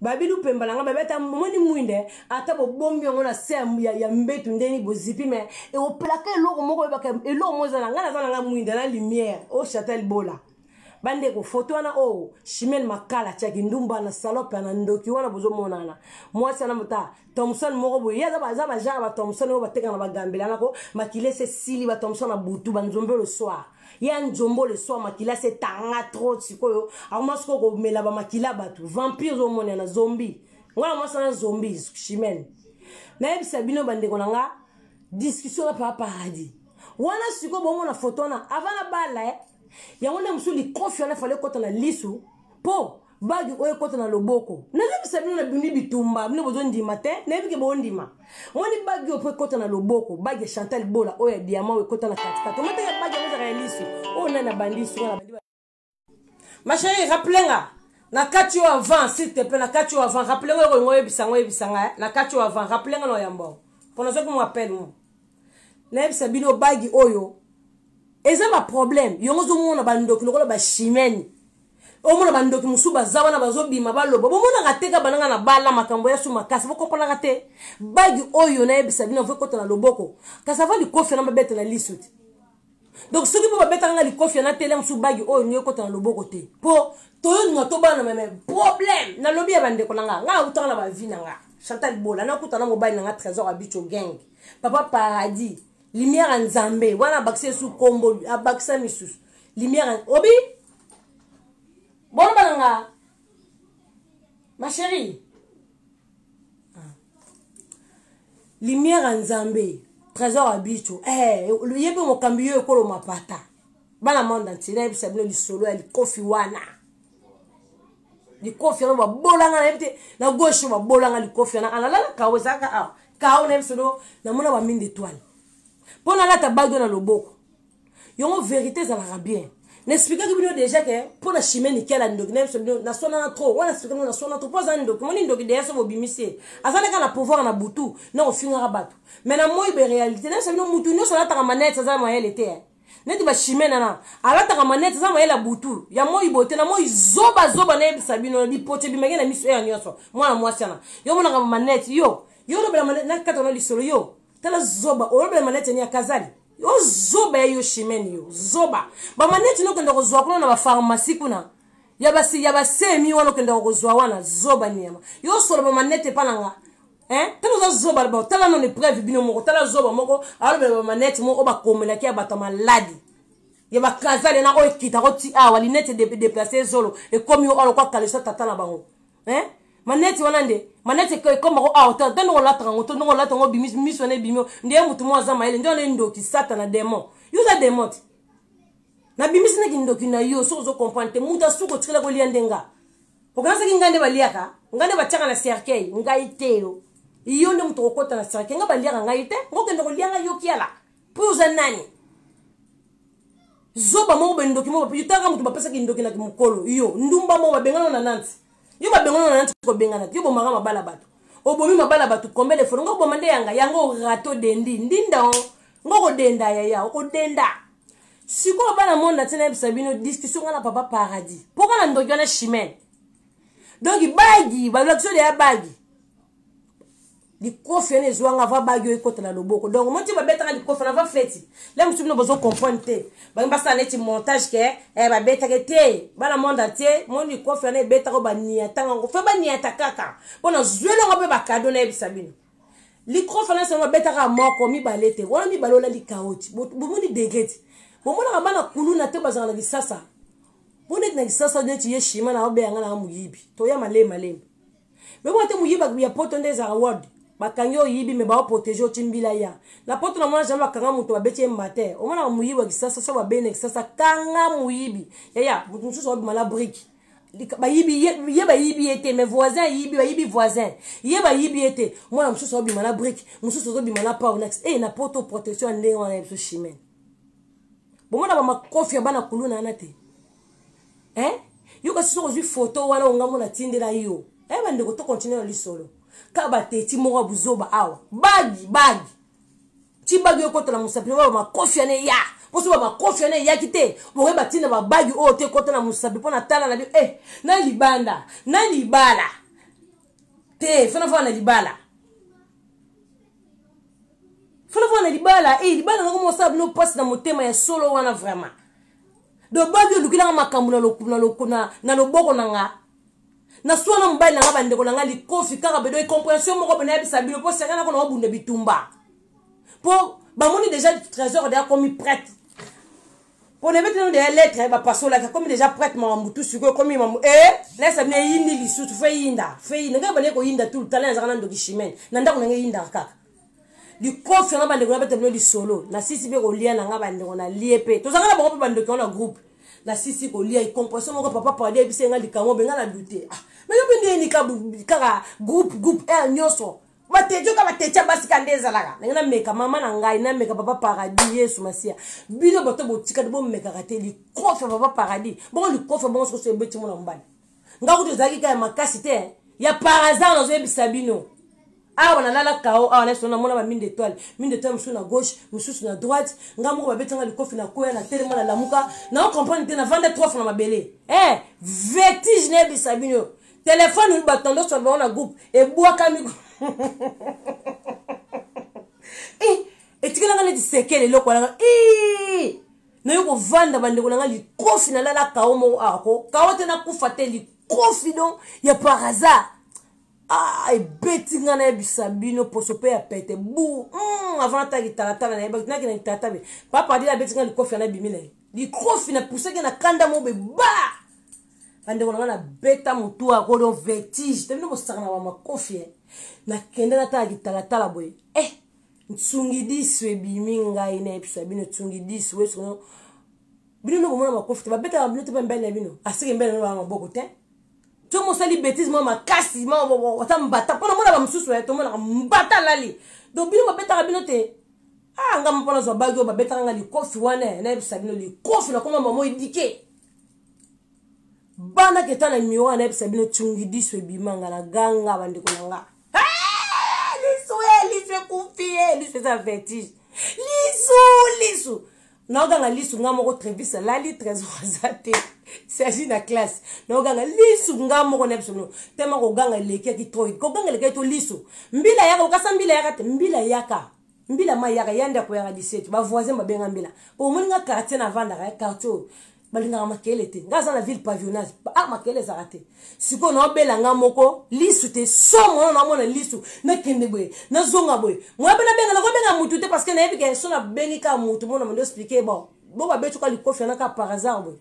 babili upemba na ngai babi ata moni mwinde ata bobombi yango na se ya, ya mbetu ndeni bozipi me eoplaka eloko moko oyebaka eloko moko eza na ngai naza na ngai mwinde na lumière o chatel bola bandeko foto wana oyo oh, shimel makala tiaki ndumba na salope na ndoki wana bozomonana mwasi wana mota thomson moko boye ye aza baza bajara ba thomson oyo bateka na bagambela nako makila ese esili ba thomson na butu banzombe le soir ye anzombo le soir makila se tanga trop sikoyo akoma sikoyo komela bamakila bato vampire ozomona na zombi ngai na mwasi na zombi chimene nayebisa bino bandeko na nga discussion na papa paradis wana sikoyo bomona foto wana avant na bala eh? yango nde mosusu likofi wana efale ekota na lisu mpo bagi oyo ekota na loboko nayebisa bino na bimi bitumba bino bozondima te nayebi ke bondima moni bagi oyo mpo ekota na loboko bagi ya chantal bola oyo ya diama oyo ekota na katikati omata ya bagi yango ezaka ya lisu oyo nani abandi suka na bandi ma chérie rappele nga na kati oyo avant s'il te plaît na kati oyo avant rappele nga okolinga oyebisa nga oyebisa nga eh? na kati oyo avant rappele nga na oyamba oyo mpo nazoki mo appel mo nayebisa bino bagi oyo eza baproblème yango ozomona bandoki lokola bachimene omona bandoki mosusu baza wana bazobima baloba bomonaka te ka bananga na bala makambo ya su makasi bokompanaka te bagi oyo nayebisa bino avo ekota na loboko kasi ava likofi yana babeta na liso te donc soki mpo babetaka nga likofi yana tele mosusu bagi oyo nde ekota na loboko te mpo toyondima tobana meme problème nalobi ya bandeko na nga nga autaka na bavi na nga chantal bola nakuta na mobali na nga trésor abicho gang papa paradis lumière ya nzambe wana abakisa esu kombo abakisa misusu lumière obi boloba na nga ma chérie ah. lumière ya nzambe trésor ya bicho eh, ye mpe mokambi yo ekolo mapata bana monde entier nayebisa bino lisolo ya likofi wana likofi yango babolanga nayebi te na gauche babolanga likofi wana alalala kao ezalaka awa kao nayebisa bino namona baminde etoile mpo nalata bague na loboko yongo verité ezalaka bien na explikaki bino déjà ke mpo na chimie nikela ndoki na biso bino nasonana trop wana explike bino nasonana trop mpo aza ndoki moni ndoki deya so bobimisi ye aza naka na pouvoir na butu na kofingaka bato mai na moi be réalité na biso bino motu nyonso alataka manete aza mayele te eh. neti bachimie nana alataka manete aza mayele ya butu ya moi boye te na moi zoba zoba nayebisa bino lipote bimaki na miso eya nyonso mwana mwasi yana yo monaka manete yo yo olobela manete nakata na lisolo yo tala zoba olobela manete ni ya kazali yo zoba ya yo chimene yo zoba bamaneti nokenda kozwa kuna na bapharmacie kuna ya basi ya basemi wana okendaka kozwa wana zoba niama yo osola bamanete epa na nga tala oza zoba loba tala nano epreuve bino moko tala zoba moko alobela bamanete moko oyo bakomelaki ya bato ya maladi ya bakazale na oyo ekitaka oti awa linete deplace ezolo ekomi yo alokwa kaleso tata na bango eh? maneti wana nde maneti ekoma ko awa ta ndenge olataka ngo to ndenge olata ngo bimi miso wana ebimi nde motu moko aza mayele nde wana endoki satana demon yo oza demon te nabimisi nde kindoki na yo soki ozo comprendre te moto asuki otikela kolia nde nga okanisaki ngai nde baliaka ngai nde batiaka na cercueil ngai te yo yo nde moto okokota na cercueil ngai baliaka ngai te ngokende kolia ngai yokiala mpo oza nani zoba moko boye ndoki moko yo tanga moto bapesaki ndoki na mokolo yo ndumba moko babengana na nanti yo babengana na nanti kobengana yo bomaka mabala bato obomi mabala bato combien de fois ngo oboma nde yanga yango rato dendi ndinda o ngo kodenda yaya okodenda sikoyo bana monde na ntina yebisa bino discussion nga na papa paradis mpo nga na ndoki wana chimene donk bagi balakisi oyo deya bagi likofi wana ezwanga va bagi oyo ekota na loboko donc moti babetaka likofi na va feti le mosusu bino bozo comprendre te bangi basala neti montage ke eh, babetaka te bana monde entier mo likofi wana ebetaka baniatanga yango fe baniata kaka mpo na zweli yango mpe bakado nayebisa bino likofi wana sango babetaka moko mibale te wana mibale olandi kaoti bomoni degre te bomonaka bana kuluna te bazala na lisasa mpo neti na lisasa neti ye shima na obeyanga na moyibi toya malema lembe me mwa te moyiba ya poto nde ezalaka word bakangi oyibi me baoprotege oti mbila ya na poto na mwana jambe bakanga moto babeti ye mbate omonaka moyibi ya kisasa so babei na kisasa kanga moyibi yaya moto mosusu abima na brike bayibi ye bayibi ye te mais voisin ayibi bayibi voisin ye bayibi ye te mwana mosusu abima na brike mosusu ozobima na pau na e na poto protection ya ndenge wana ya biso chimene bomona bamakofi ya bana kuluna wana te eh? yo kasi soki ozwi foto wana ongambo natindela yo eh, bandeko to continue na lisolo ka bateti moko ya buzoba awa bagi bagi ti bagi ekotala mosapi oyo makofi yana eya mpo soki bamakofi wana eyaki te bokoki batina babagi oyo te ekota na mosapi mpo na tala na bi e na libanda na libala te fanafana na libala fanafana na libala e libala nako mosala bino mpasi na motema ya solo wana vraiment do babi olukelanga makambo na loboko na, loko, na, na, loboko na nga naswana na mobali na nga bandeko na nga likofi kaka bedo incomprehension moko bena yebisa bino mpo senga nako na obunda bitumba mpo bamoni deja trésor de akomi prête mpo na ebetino deya lettre bapasolaki akomi deja prête mawa mutu sikoyo ekomi mamu e eh, nayesa bino eyindi lisusu fo eyinda fo eyinda ngai banaye koyinda tout le temps na ezaka na ndoki chimene na ndako na ngai eyindaka kaka likofia na bandeko na beta bino lisolo nasisi mpe kolia na nga bandeko nalie mpe tozalaka na bango mpe bandeko na groupe nasisi kolia icompression moko papa padi ayebisa ye nga likambo mpe nga na dute ah, me yo mpe nde yenika kaka groupe groupe r nyonso batejo ka batecha basi ka nde ezalaka ndenge nameka mama na ngai nameka papa paradis yesu masiya bino bato botikali bomekaka te likofi ya papa paradis bongo likofi ya bongo sokoso ebeti mona mobali nga kutu ezalaki ka ya makasi te ya par hasard nazoyebisa bino awa nalala kao awa nayeso namona ba mine d'étoile mine d'étoile mosusu na gauche mosusu na droite nga moko babetanga likofi na koya na telema na lamuka nao comprendre te navanda trois fois na mabele eh vertige nayebisa bino telefone oyo bato ndoso ya bango na groupe ebwakami eh, etikelanga neti sekele eloko alanga eh, nayo kovanda bandeko na ngai likofi nalala kao moko awa ko kao te nakufa te likofi don ya par hasard ah, ebeti ngai nayebisa bino poso mpe ya pete bu mm, avant ata kitalatala nayebaki naki na kitalatala papa adila abeti ngai likofi ana bimi na ye likofi napusaki na kanda moko beba bandeko na ngai nabeta motu akodo vertige te bino bosaka na bamakofi eh. nakende natala kitalatala boye eh. nsungidisu ebimi ngai nayebisa bino nsungidisu wesono bino nde komona makofi te babetaka bino te mpe mbele na bino aseke mbele na banga maboko te to mosali betise mwa makasi ata mbata mpo namonaka mosusu ya eh, tomonaka mbata alali donc bino babetaka bino te ah nga mpo nazwa bagi oyo babetaka nga likofi wana eh, nayebisa bino likofi nakoma mamo edike bana keta na mioa nayebisa bino tsungidisu ebima nga na ganga bandeko na nga Hey, lisu e eh, lisu ekufi e eh, lisu eza vertige lisu lisu naoganga lisu nga moko trevisa lali trésor aza te sergi na classe naoganga lisu nga moko na biso no tema koganga elekaki troid koganga elekaki to lisu mbila yaka okasa mbila yaka te mbila yaka mbila ma yaka ya ndako yaka 17 ba voisin ba benga mbila po omoni nga quartier na vandaka ya quartier oyo balingaka makele te nga aza na ville pavillonnage ah makele ezaka te sikoyo naobela nga moko lisu te somo wana naomona lisu nakende boye nazonga boye moya mpe nabenga nakobenga mutu te parce que nayebi ke so nabengi kaka mutu mona mondo explike bon bo babetu ka likofi yana kaka par hasard boye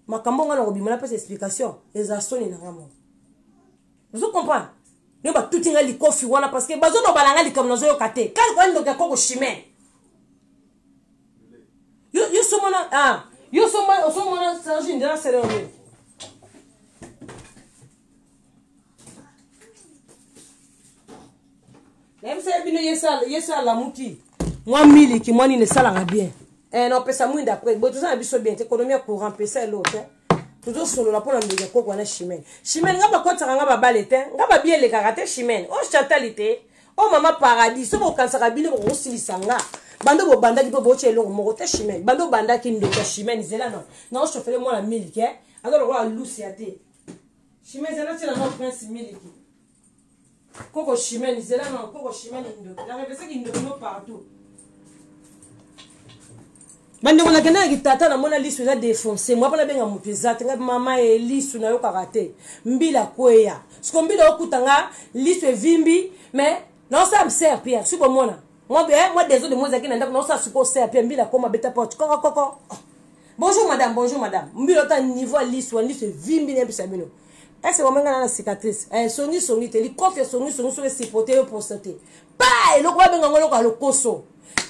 makambo nga nakobima napesa explication eza soni na nga moko ozo comprendre yo batuti ngai likofi wana parce que bazolobala ngai likambo nazoyoka te kani koya ndoki ya koko chimene yo, yo somona ah, yo somona osomona serge ndela sereo nayebisaki bino yesu alamuki mwa miliki mwa nini esalaka bien eh, na opesa mwinda après boye toza na biso bien te ekonomi ya courant pesa eloko te tozosolola mpo na mbeli ekoko wana chimene chimene nga bakotaka nga babale te nga babia elekaka te chimene o oh, chatali te o oh, mama paradis soki okanisaka bino bokosilisa nga bando bobandaki mpe bootya eloko moko te chimene bando obandaki ndeko ya chimene zela no naoshofele mwana miliki eh? aza lokola lusi ya te chimene zela tyela no prince miliki koko chimene zela na koko chimene ndoki na revese kindoki no partout bandeko na kendaki tata namona lisu eza defonse mwa mpo nabenga moto eza te ngai mama ye lisu nayokaka te mbila kweya siko mbila okuta nga lisu evimbi mais naosala mser pierre si bomona mwa eh, desode mwa ezalaki na ndako naosala siko ser pierre mbila koma beta porte kokokoko Bonjour madame, bonjour madame. Mbilo ta niveau ya lisu, ya lisu evimbi na episa bino. Ese wamanga na cicatrice. Eh songi songi te, likofi ya songi songi soki sipote yo prostate. Pa eloko babenga ngo eloko ya lokoso.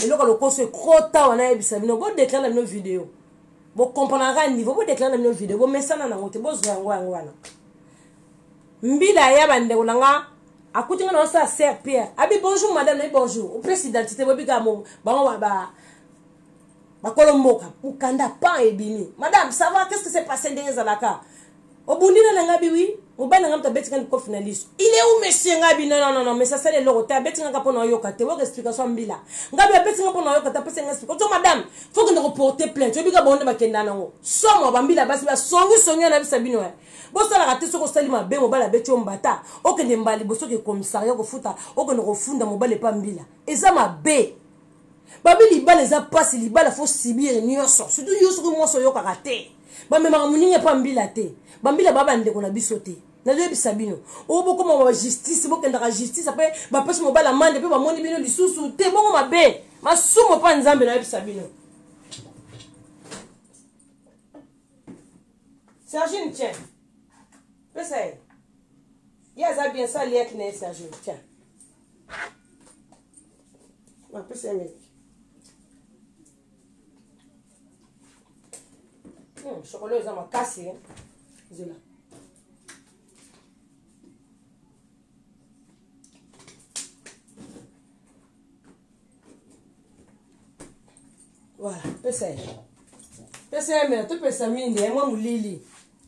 Eloko ya lokoso ekota wana ebisa bino. Bo declare na bino video. Bo comprendre ka niveau, bo declare na bino video. Bo mesana na ngote, bo zwa yango yango wana. Mbila ya bandeko na nga akuti nga na osa sœur Pierre. Abi bonjour madame, na bonjour. Opesi identité bo bika mo bango ba bakolo mboka mokanda pan ebimi madame ça va qu'est ce que c'est passé ndenge ezalaka obundi na nanga biwi mobali nanga moto abeti nga likofi na liso il est où monsieur nga bi non non non mais ça sala eloko te abeti nga mpo na oyoka te oyoka explication mbila nga bi abeti nga mpo na oyoka te apesi nga explication to madame faut kende koporte plainte oyebi ka bango nde bakenda nango somo bambila basi basongi songi yo nabisa bino ya bosalaka te soki osali mabe mobali abeti yo mbata okende mbala liboso ke commissariat kofuta okende kofunda mobali epa mbila eza mabe babi libala eza mpasi libala fo sibire nyonso surtout yo soki mwasi oyokaka te bamemaka moninga mpo ambila te bambila baa bandeko na biso te nazoyebisa bino oyo bokoma ba justice bokendaka justice apre bapesi mobali amande mpe bamoni bino lisusu te bongo mabe masumu mpa nzambe nayebisa bino sergine tien pesa ye ye aza bien sali yaki na ye sergine tien napesi ya meki hmm, chokola eza makasi eh. zela voilà pesa ye pesa ye mela topesa minde yango molili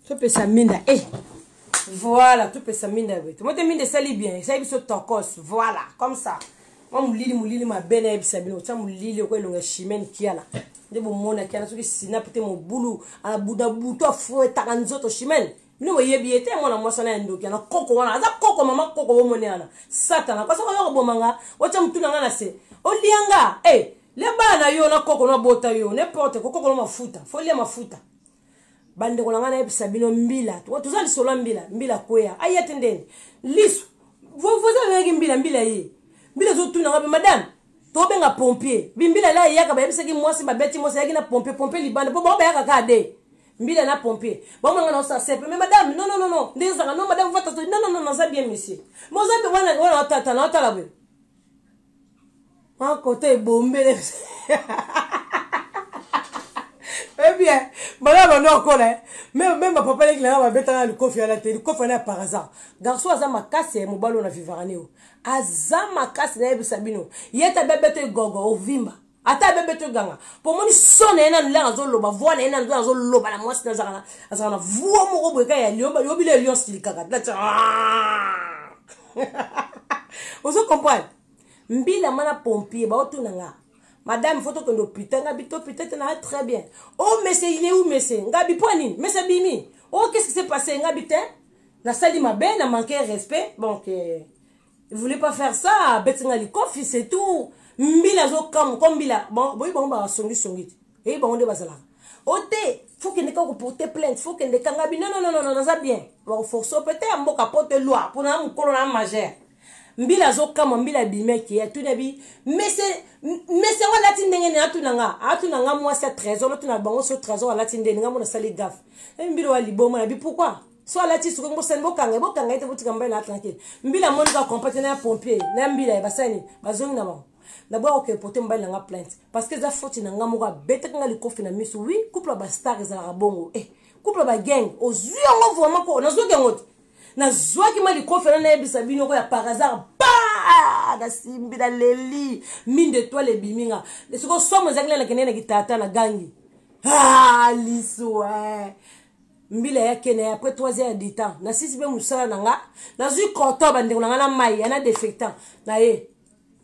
topesa minda e eh. voilà topesa minda ya boye tomo te minda esali bien esali biso tokos voilà comme ça mwa molili molili mabe nayebisa bino otya molili oko elonga chimene kiala nde bomonaki ana soki sinape te mobulu abuda butu afuetaka nzoto chimene bino boyebi ye te mwana mwasi wana ya ndoki yana koko wana aza koko mama koko bomone yana satana kasi okoya koboma nga otya motu na nga na se olia nga e eh, le bana na yo na koko nabota yo n'importe kokokolo mafuta folia mafuta bandeko na ngai nayebisa bino mbila toza lisolo ya mbila mbila kweya aya te ndenge lisu voisin azalaki mbila mbila ye mbila ezotuna ngai madame tobenga pompier bimbila la eyaka bayebisaki mwasi babeti mwasi ayaki na pompier pompier libanda mpo bango bayaka kaka de mbila na pompier bamanga na osa sepe mais madame non non non non ndenge ezalaka non madame vata non non non naza bien monsieur moza wana wana watata na watala boye mwa kota ebombele ebien eh bana bando akola eh. meme bapapa leki nanga babetanga likofi wana te likofi wana ya par hasard garçon aza makasi ya eh, mobali oyo na vivarane oyo aza makasi nayebisa bino ye tabia beto egogo ovimba ata abebe to ganga pomoni so na ye nanu langa azoloba voi na ye nanu azoloba na mwasi nazaka azaka na voi moko boye kaka ya lion yobila ya lion silikaka tati ozo comprendre mbila mana pompier baotuna nga madame fo tokende opita nga bito pita te naa très bien o oh, mese ye u mese nga bipo nini mese bimi o oh, qu'est ce qui s'est passé nga bite nasali mabe na manque respect donc eh. il voulait pas faire ça abeti nga likofi c'est tout mbila azokamwa ko mbila boyi bango basongisongi te eyi bango nde bazalaka o oh, te faut kende ka koporte plainte faut kende kanga bi non non non naza bien bakoforce mpe te ya mboka mpo te loi mpo na mokolo na majeur mbila azokamwa mbila abimaki ye atuni abi mese mese yango alati ndenge nini atuna nga atuna nga mwasi ya trésor atuna bango so trésor alati ndenge nga mona asali gafe mbila wa liboma na bi pourkui so alati suki bosani bokanga ye bokanga ye te botika mobali na tranquille mbila amoni kaka compate na ya pompier na ya mbila ye basali nini bazongi na bango naboya kokepote mobali na nga plainte parce que eza foti na nga moko abetaki nga likofi na miso wi couple ya bastar ezalaka bongo e eh, couple ya bagenge ozwi yango vraimen ko nazwaki yango te nazwaki ma likofi na nayebisa bino ko ya par hasard ba nasimbi naleli mine de toile ebimi nga sikoyo somo ezalaki nalakende na kitata na gangi ah, liso e eh. mbila ya kena ya après 3 heures du temps nasisi mpe mosala na nga nazwi coton bandeko na nga na mai ya na défectant na ye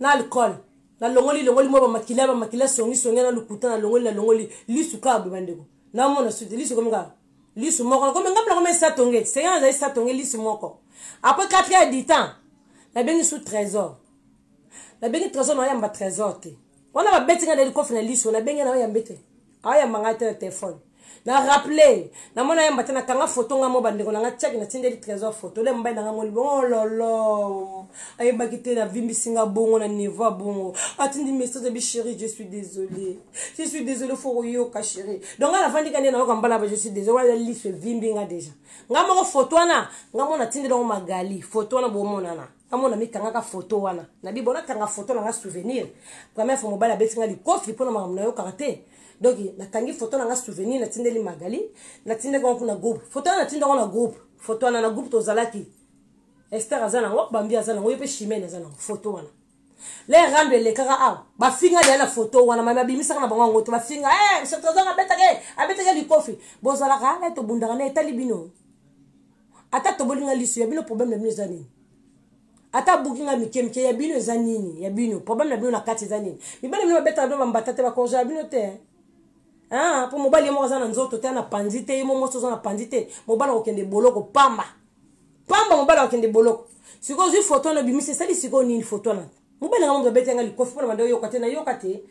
na alcool nalongoli longoli mwa bamakila bamakila songisongi na lokuta nalongoli nalongoli lisu kaka boye bandeko namona suti lisu komi kaka lisu moko nakomi ngambo nakomi esatonge senya nazali satonge lisu moko après 4 heures du temps nabengi su trésor nabengi trésor naoyamba trésor te wana babeti nga na elikofi na lisu nabengi naoyambe te ayamba ngai te na telefone na rappele namona yamba te nakanga foto ngai mo bandeko na ngai tiaki natindeli trésor foto le mobali na ngai moni bongo oh lolo ayebaki te navimbisi ngai bongo na niveau bongo atindi message abi chéri je suis désolé je suis désolé fo koyoka chéri donc ngai nafandi ka nde nayoka mbala ba je suis désolé wana liso evimbi ngai déjà ngai moko foto wana ngai mo natindeli yango magali foto wana bomonana namona mikangaka foto wana nabi bona kanga foto nanga souvenir première fois mobali abeti nga likofi mpo na makambo nayokaka te donc nakangi foto nanga souvenir natindeli magali natindaki yango kuna groupe foto wana natinda yango na groupe foto wana na groupe tozalaki ester aza nango bambi aza nango ye mpe chimene aza nango foto wana le rando elekaka awa bafinga deya na foto wana mai babimisaka na bango yango te bafinga eh, soki tozanga abetaka abetaka likofi bozalaka eh, tobundaka na etali bino ata toboli nga liso ya bino problème na bino eza nini ata abuki nga mike mike ya bino eza nini ya bino problème na bino na kati eza nini mibali bino babetaka bino bambata te bakorja ya bino te mpo mobali ye moko aza na nzoto te ana panzi te ye mo mwasi oza na panzi te mobali akokende boloko pamba pamba mobali akokende boloko sikoyo ozwi foto wana obimisi esali sikoyo nini foto wana mobali nanga moto abeti yanga likofi mpo na banda oyoka te nayoka te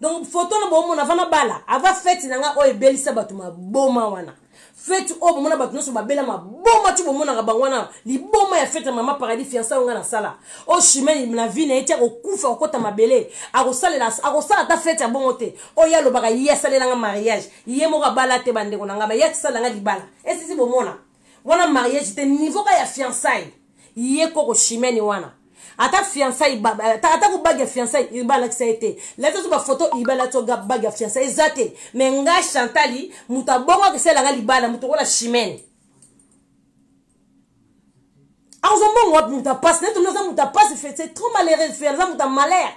donc foto na bomona ava nabala ava feti na nga oyo ebelisa bato maboma wana feti oyo bomona bato nyonso babela maboma ti bomonaka bango wana liboma ya feti ya mama paradis fiansa oyo ngai nasala oyo chimene na vi na ye ti akokufa akokota mabele akosalela akosala ata feti ya bongo te oyo ye alobaka ye asalela nga mariage ye moko abala te bandeko na ngai ma ye atisala nga libala esisi bomona wana mariage te niveau ka ya fiançaille ye koko chimene wana ata fiançaille ata ko bague ya fiançaille iriba alakisa ye te lati ozo bafoto iriba lati oga bague ya fiançaille eza te me nga chantali moto abongo akesala nga libala moto okola chimene akozwa mbongo wapi moto apasi neti oza moto apasi c'est trop malheureux aza moto ya malheur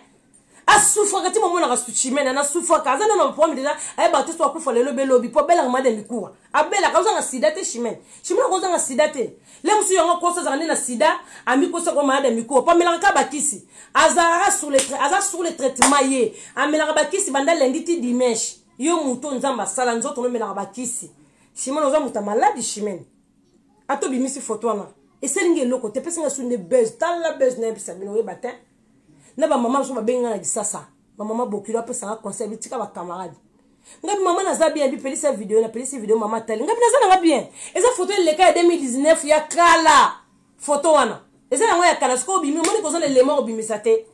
asufraka ti momonaka suchimene na sufraka aza nano mpomi deja ayebaka te so akufa lelo belobi mpo abelaka made mikuwa abelaka ozanga sida te chimene chimene ako ozanga sida te le mosusu yango akosa azaka nde na sida amikosa ko malade mikuwa mpo amelaka kaka bakisi azalaka sur le aza sur le traitement ye amelaka bakisi banda lendi ti dimanche yo moto oyo nzambe asala nzoto nomelaka bakisi chimene oza moto ya maladi chimene atobimisi foto wana eselingi eloko te pesi nga su nde buzz tala buzz na yebisa bino oyeba te na bamama biso babengi ngai na lisasa bamama bokilo apesa nga conseil bi tika bacamarade ngai bi mama naza bien bipelisa video napelisi video mama atali ngai bi naza na nga bien eza foto eleka ya 2019 ya kala foto wana eza yango ya kala sikoyo obimi omoni koza na elema obimisa te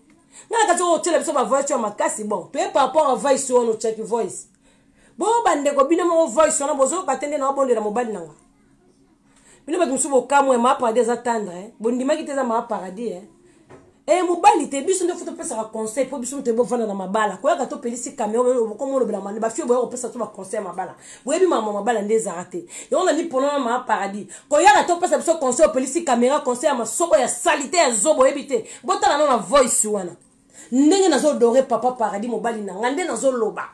ngai na kati oyo otyela biso bavoice ya makasi bon toye par rapport a voice wana otyaki voice bo bandeko bino moko voice wana bozoyoka te nde na obondela mobali na ngai bino bato mosusu bokamwe maa paradis aza tendre eh? bondimaki te eza maa paradis eh? e eh, mobali te biso nde fo topesaka conseil mpo biso moto bovanda na mabala koyaka topelisi camion bokoma olobela mane bafio boya kopesa to baconseil ya mabala boyebi mama mabala nde ezala te yango na miponana maa paradis koyaka topesa biso conseil opelisi camera conseil ya masoko ya salite ya zobo oyebi te botala no na voice wana ndenge nazodore papa paradis mobali na ngai nde nazoloba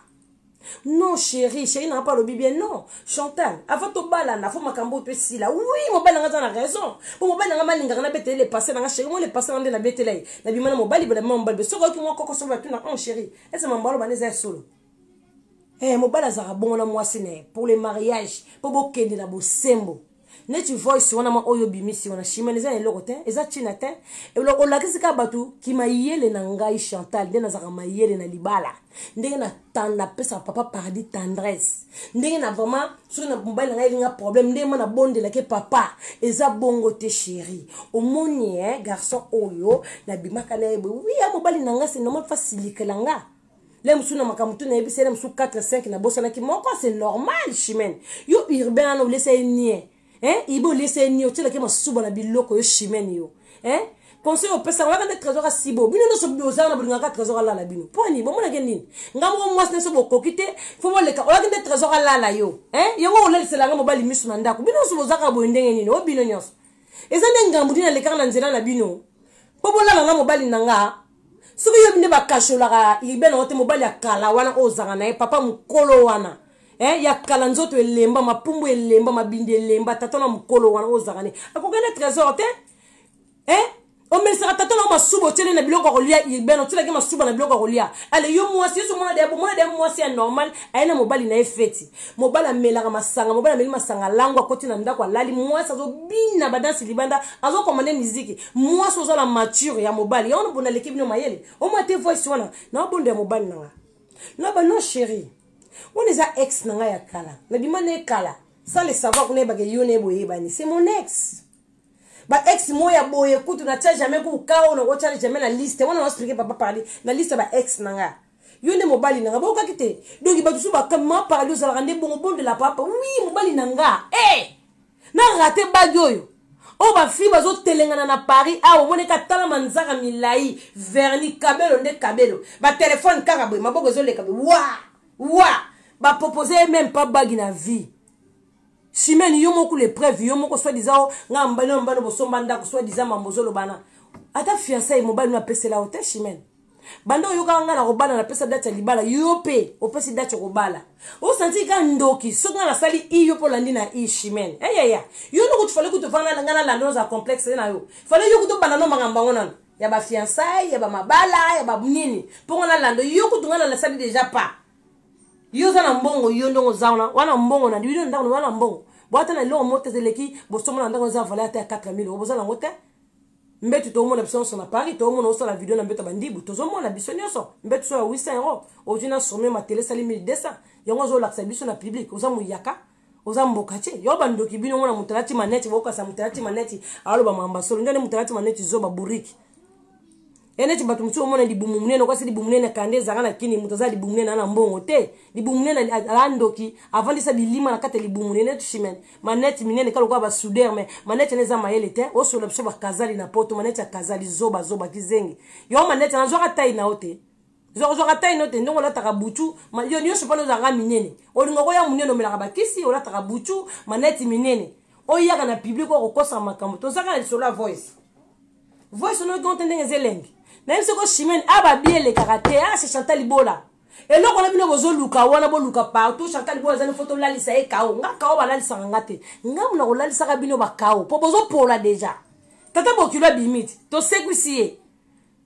non chéri chéri nanga mpe alobi bien non chantal avant tobalana fo makambo oyo mpe esila wi mobali nanga aza na raison mpo mobali nanga malingaka nabetele le passé nanga chéri mo le passé nanga nde nabetela ye nabima na mobali bola bima mobali soki oyoki mwa koko soki batuna on oh, chéri ese mambo aloba nde eza ya solo eh mobali azalaka bongo na mwasi na ye pour le mariage mpo bokende na bosembo neti voice wana ma oyo obimisi wana chimene eza na eloko te eza ntina te olakisi kaka bato kimayele na ngai chantal nde nazalaka mayele na libala ndenge napesaka papa paradis tendresse ndenge na vraiment soki na mobali na ngai elinga problème ndenge ma nabondelaki papa eza bongo te chéri omoni e garçon oyo nabimaka na ye boye wi ya mobali na ngai se normal fasilikela nga le mosusu na makambo tu nayebisa ele mosusu 4 5 nabosanaki moko c'est normal chimene yo urbain wana olesa ye nie eh? ibe olesa ye nie otyelaki masuba na biloko yo chimene yo eh? conseil opesaka oyaka nde trésor asibo bino nyonso bozala na bolingaka trésor alala bino mponi bomonake nini nga moko mwasi nyonso bokoki te fo boleka oyaki nde trésor alala yo eh? yango olalisela nga mobali miso na ndako bino nyonso bozalaka boye ndenge nini o bino nyonso eza nde ngambo nini alekaka na nzela na bino mpo bolala na mobali na nga soki yo nde bakasholaka libe na yo te mobali ya kala wana oyo ozanga na ye papa mokolo wana eh, ya kala nzoto elemba mapumbu elemba mabindi elemba tata na mokolo wana oyo ozanga ne akokende trésor te eh? omelisaka tata nao masuba otyeli na biloko ya kolia urbaine otyelaki masuba na biloko ya kolia ale yo mwasi yesu mwana deya bomwana deya mwasi ya normal aye na mobali na ye feti mobali amelaka masanga mobali ameli masanga lango akoti na ndako alali mwasi azobina badansi libanda azokomande miziki mwasi oza na mature ya mobali yango nabonda aleki bino mayele omwa te voice wana nabondo ya mobali nanga naba no chéri wana eza ex na ngai ya kala nabima na ye kala sans le savoir kuna yebaka yo na ye boyebani c'est mon ex ba ex mo ya boye kutu na tia jamais kuka oyo nakotya jamais na liste wana naosplike papa parle na liste ya ba ex na ngai yo nde mobali na nga boyokaki te donki bato mosusu bakama parali ozalaka nde bongo bondela papa wi mobali na nga e eh! na rate bagi oyo oyo oh, bafille bazotelengana na paris awa ah, omoni ka tala manzaka milai verni kabelo nde kabelo batelefone kaka boye maboko ezoleka boye wa wa bapropose ye meme pa bagi na vie simeni yo moko lepreuve yo moko swadisa o ngai mbano mbano bosomba ndako swadisa mambo ozolobana ata fiansai mobali no apesela yo te simeni banda oyokaka ngai nakobala napesa date ya libala yo mpe opesi date okobala osanti ka ndoki soki ngai nasali i yo mpo olandi na i chimene eyaya yo nde kutu fale kutu vana ngai nalanda oza complexe na yo fale yo kutu obanda no makambo yango nano ya bafiansai ya bamabala ya banini mpo ngai nalanda yo kutu ngai nalasali deja pa yo oza na mbongo yo ndongo oza wana wana mbongo na bino ndako wana mbongo bwata na eloko moko te eleki bosomona ndako eza valeur ata ya 4000 oboza nango te mbetu toomona biso nyonso na paris toomona osala video na mbetu ya bandibu tozomona biso nyonso mbetu so ya 800 euro ozwi na somio matele esali 1200 yango azolakisa biso na publike oza moyaka oza mboka te yo bandoki bino ngo na moto alati maneti bokasa moto alati maneti aloba mamba solo nde nde moto alati maneti zoba buriki ya neti bato mosusu omona libumu monene okwasi libumu monene na kanda ezanga na kini moto aza libumu monene ana mbongo te libumu monene aa ndoki avandisa bilima na kati ya libumu monene neti chimene maneti minene ka lokola basuder me maneti ene eza mayele te osola biso bakazali na poto maneti ya kazali zoba zoba kizengi yo maneti nazwaka tai na yo te ozwaka tai no te ndenge olataka butu yo nyonso mpona ozalaka minene olinga koya monene omelaka bakisi olataka butu maneti minene oyaka na publike okokosaka makambo tozaka na lisolo ya voice voice onoki onte ndenge eza elengi nayebi soko chimene ababi elekaka te ase ah, chantal libola eloko na bino bozoluka wana boluka partout chantal libola ezali fo tolalisa ye kao nga kao balalisaka nga te nga mona kolalisaka bino bakao mpo bozopola deja tata bokilo abimi te tosekwisi ye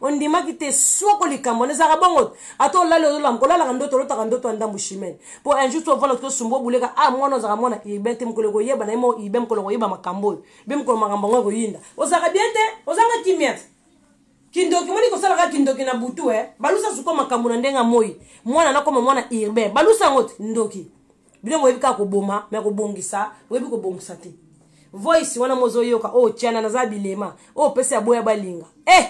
ondimaki te soko likambo wana ezalaka bongo ata olali ozolamuka olalaka ndoto olotaka ndoto ya ndambu chimene mpo un jour ovanda tosumba obuleka a ah, mwana ozalaka mwana urbain te mokolo ekoyeba na ye moko urbain mokolo koyeba makambo oyo be mokolo makambo yango ekoyinda ozalaka bien te ozanga kimia te kindoki moni kosalaka kindoki na butu e eh? balusa suko makambo na ndenge ya moi mwana nakoma mwana urbain balusa yango te ndoki bino boyebi kaka koboma me kobongisa boyebi kobongisa te voice wana mozoyoka oyo oh, tiana naza bilema oyo oh, pesa ya boya balinga eh!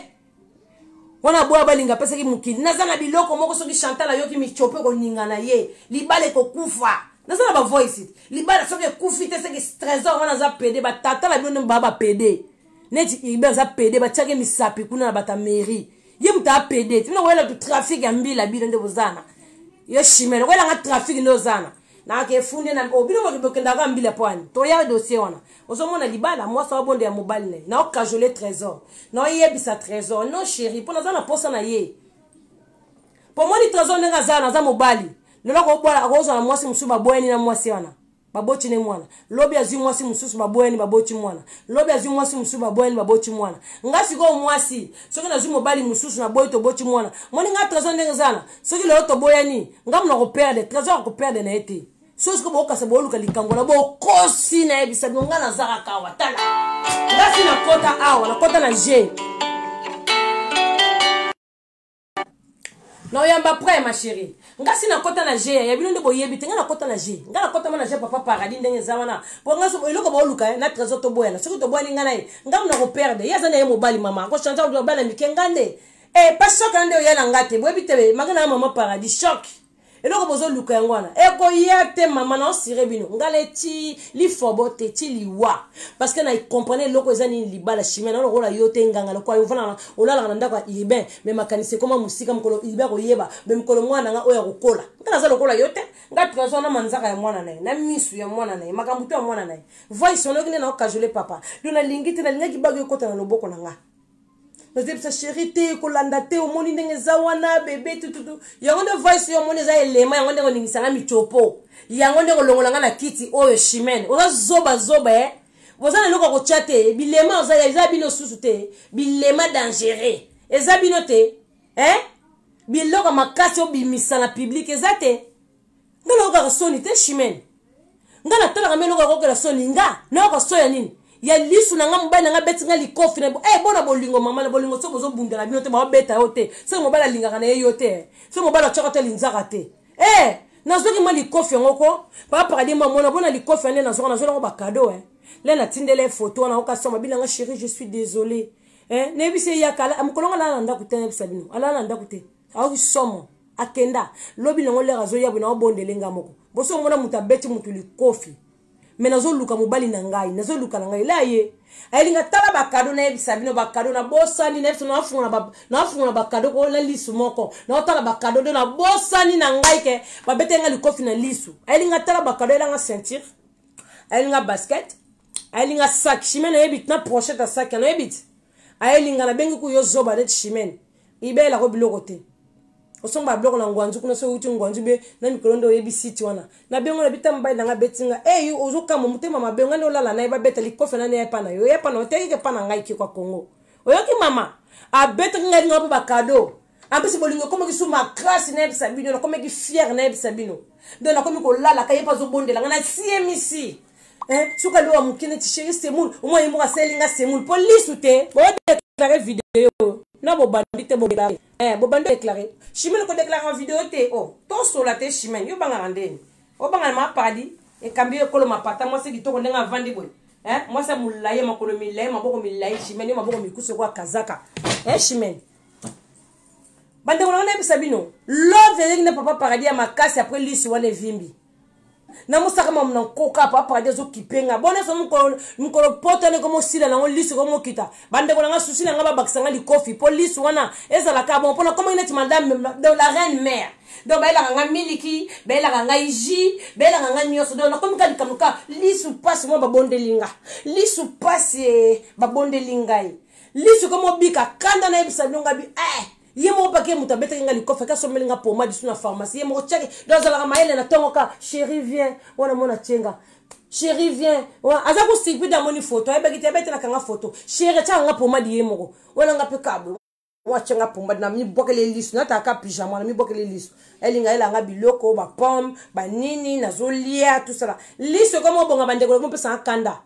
wana boya balinga apesaki mokili naza na biloko moko soki chantal ayoki micope koninga na ye libala ekokufa naza na bavoice libala soki ekufi te seki trésor wana aza pede batata na bino nde baa bapede neti urbain aza pede batiaki misapi kuna na bato ya mairie ye moto aa pede ti bino koyela tu trafic ya mbila bino nde bozana yo chimele koyelanga trafic nde ozana nake efundi na o oh, bino moto bokendaka mbila mpo ani toya dossier wana ozomona libala mwasi wabonde ya mobali na ye naokajole trésor naoyebisa trésor non chéri mpo naza na mposa na ye pomoni trésor ndenge aza naza mobali lelo akozwa na mwasi mosusu baboyani na mwasi wana baboti ne mwana lobi azwi mwasi mosusu baboyani baboti mwana lobi azwi mwasi mosusu baboyani baboti mwana nga sikoyo mwasi soki nazwi mobali mosusu naboyi toboti mwana moni nga trésor ndenge ezana soki lelo toboyani nga mona koperde trésor akoperde na ye te soki sikoyo bokasa boluka likambo na bokosi nayebisa bino nga nazaka kawa tala ngasi nakota awa nakota na je na oyamba après ma chérie ngasi nakota na je ya bino nde boyebi te ngai nakota na je ngai nakotama na je papa paradis ndenge eza wana po ngai eloko baoluka eh, na trésor toboyana soki toboyani ngai na ye ngai mona koperde ye aza na ye mobali mama akochange bana mike ngai nde e eh, pa choc na nde oya na ngai te boyebi te eh, maka na ya mama paradis choc eloko bozoluka yango wana ekoya te mama na osire bino ngai na ti lifobo te ti liwa parceke na comprene eloko eza nini libala chimia na lokola yo te nganga lokola ofana olalaka na ndako ya urbain me makanisi ekoma mosika mokolo urbain akoyeba me mokolo mwana na ngai oyo akokola ngai naza lokola yo te ngai tuka azwa na manzaka ya mwana na ye na misu ya mwana na ye makambo to ya mwana na ye voice onoki nde na okajole papa do nalingi te nalingaki bagi ekota na loboko na ngai nazebisa sheri te kolanda te omoni ndenge eza wana bebe tututu yango nde voice yo omoni eza elema yango ndenge oningisa nga micopo yango ndenge olongola nga na kiti oyo chimene oza zoba zoba e eh? boza na eloko kotya te bilema oza eza bino susu te bilema dangereux eza bino te e eh? biloko makasi obimisa na publike eza te nga nayokaka soni te chimene nga natalaka mbe eloko yakokela soni nga nayoka so ya nini ya lisu na nga mobali na nga beti nga likofi na eh, bona bolingo mama na bolingo soki bozobundela bino te baobeta yo te soki mobali alingaka na ye yo te soki mobali atyaka te alinzaka te eh, nazwaki mwa likofi yango ko baparadi mwa mona bona likofi ya nde nazwaka nazwela yango bakado eh. le natindela ye foto wana okasoma babina nga chéri je suis désolé eh, nayebisi ye yaka mokolo ngo alala na ndako te nayebisa bino alala na ndako te aoki somo akenda lobi nango lere azoya boye naobondele nga moko boso omona moto abeti moto likofi me nazoluka mobali na ngai nazoluka na ngai ela ye ayeli nga tala bakado nayebisa bino bakado nabosani nayebisa nafungola bakado ko na lisu moko naotala bakado do nabosani na ngai ke babete nga likofi na lisu ayeli nga tala bakado ayela nga ceinture ayeli nga basket ayeli nga sak chimene nayebiti na prochete ya sak yanayebiti ayeli nga nabengi kuyo zoba neti chimene ibela ko biloko te osomba ba biloko na ngwanzu kuna soki outi ngwanzu be na mikolo nde oyebi site wana na bengo na bita mobali nanga abeti nga ey eh, ozokamwa motema mabe nga nde olala na ye babeta likofe nani epa na yo epa na oteki kepa na ngai kikwa kongo oyoki mama abetaki ngai linga mpe bakado ampesi bolingo ekomaki su makrasi nayebisa bino nakomaki fiere nayebisa bino donc nakomi kolalaka ye mpe azobondela nga nasiemisi eh, soki aloba moke neti sheri semoul omwa ye moko asaleli nga semoul mpo lisu te bodeklare video na bobandi te bodeklare eh, bobandi deklare chimene kodeklare ma video te o oh, tosola te chimene yo bangaka ndeni obangana ma paradis ekambi yo ekolo mapata mwasi kitoko ndenge avandi boye eh, mwasi ya molai makolo milai maboko milai chimene yo maboko mikusu ekoya kazaka eh, chimene bandeko na ngai nayebisa bino love ezalaki na papa paradis ya makasi apres lisi wana evimbi namosaka mamu na nkoka pa paradi azokipe nga bona so mokolo poto wana ekomosila nango lisu ekomokita bandeko na nga susi na nga babakisa nga likofi mpo lisu wana ezalaka bon mpo nakomaki neti madame donc la reine mare donc bayelaka nga miliki bayelaka ngai ji bayelaka nga nyonso donc nakomi ka likambo ka lisu mpasi mwa babondeli nga lisu mpasi eh, babondeli ngai lisu ekomobika kanda nayebisa bino ngabi eh. ye moko pake moto abetaki nga likofi ake asombeli nga pomade su na pharmacie ye moko tiake do azalaka mayele na ntongo ka chéri vien wana mona tie nga chéri vien aza kosirpide amoni foto ayebaki te abetelaka nga foto chéri atiaka nga pomade ye moko wana nga mpe kablo watia nga pomade na mibwakeli ye liso nataka pyjama na mibwakeli ye liso elinga yela nga biloko bapomme banini nazolia tosala liso ekoma obonga bandeko nakomopesanga kanda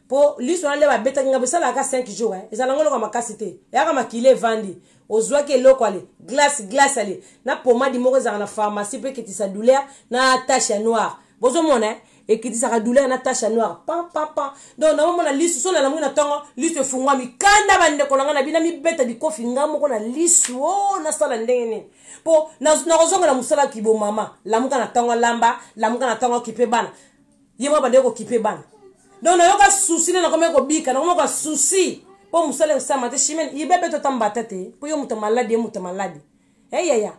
po liso wana nde babetaki ngai bosalaka 5 jours eh. ezala ngo eloko ya makasi te eyaka makila evandi ozwaki eloko ale glace glace ale na pomadi moko ezalaka na pharmacie mpo ekitisa douleur na tache ya noire bozomona eh? ekitisaka douleur na tache ya noire pam pam pam donc naomona lisu so nalamuki na ntongo lisu efungwami kanda bandeko na ngai na bino mibeta bikofi ngai moko na lisu o oh, nasala ndenge nini mpo nakozongela mosala kibomama lamuka na ntongo lamba lamuka na ntongo kipe bana ye mwa bandeki kokipe bana donc nayoka susi nde nakomi kobika nakomoka susi mpo mosala esalama te chimene ibe mpe totambata te mpo yo moto maladi ye moto maladi eyaya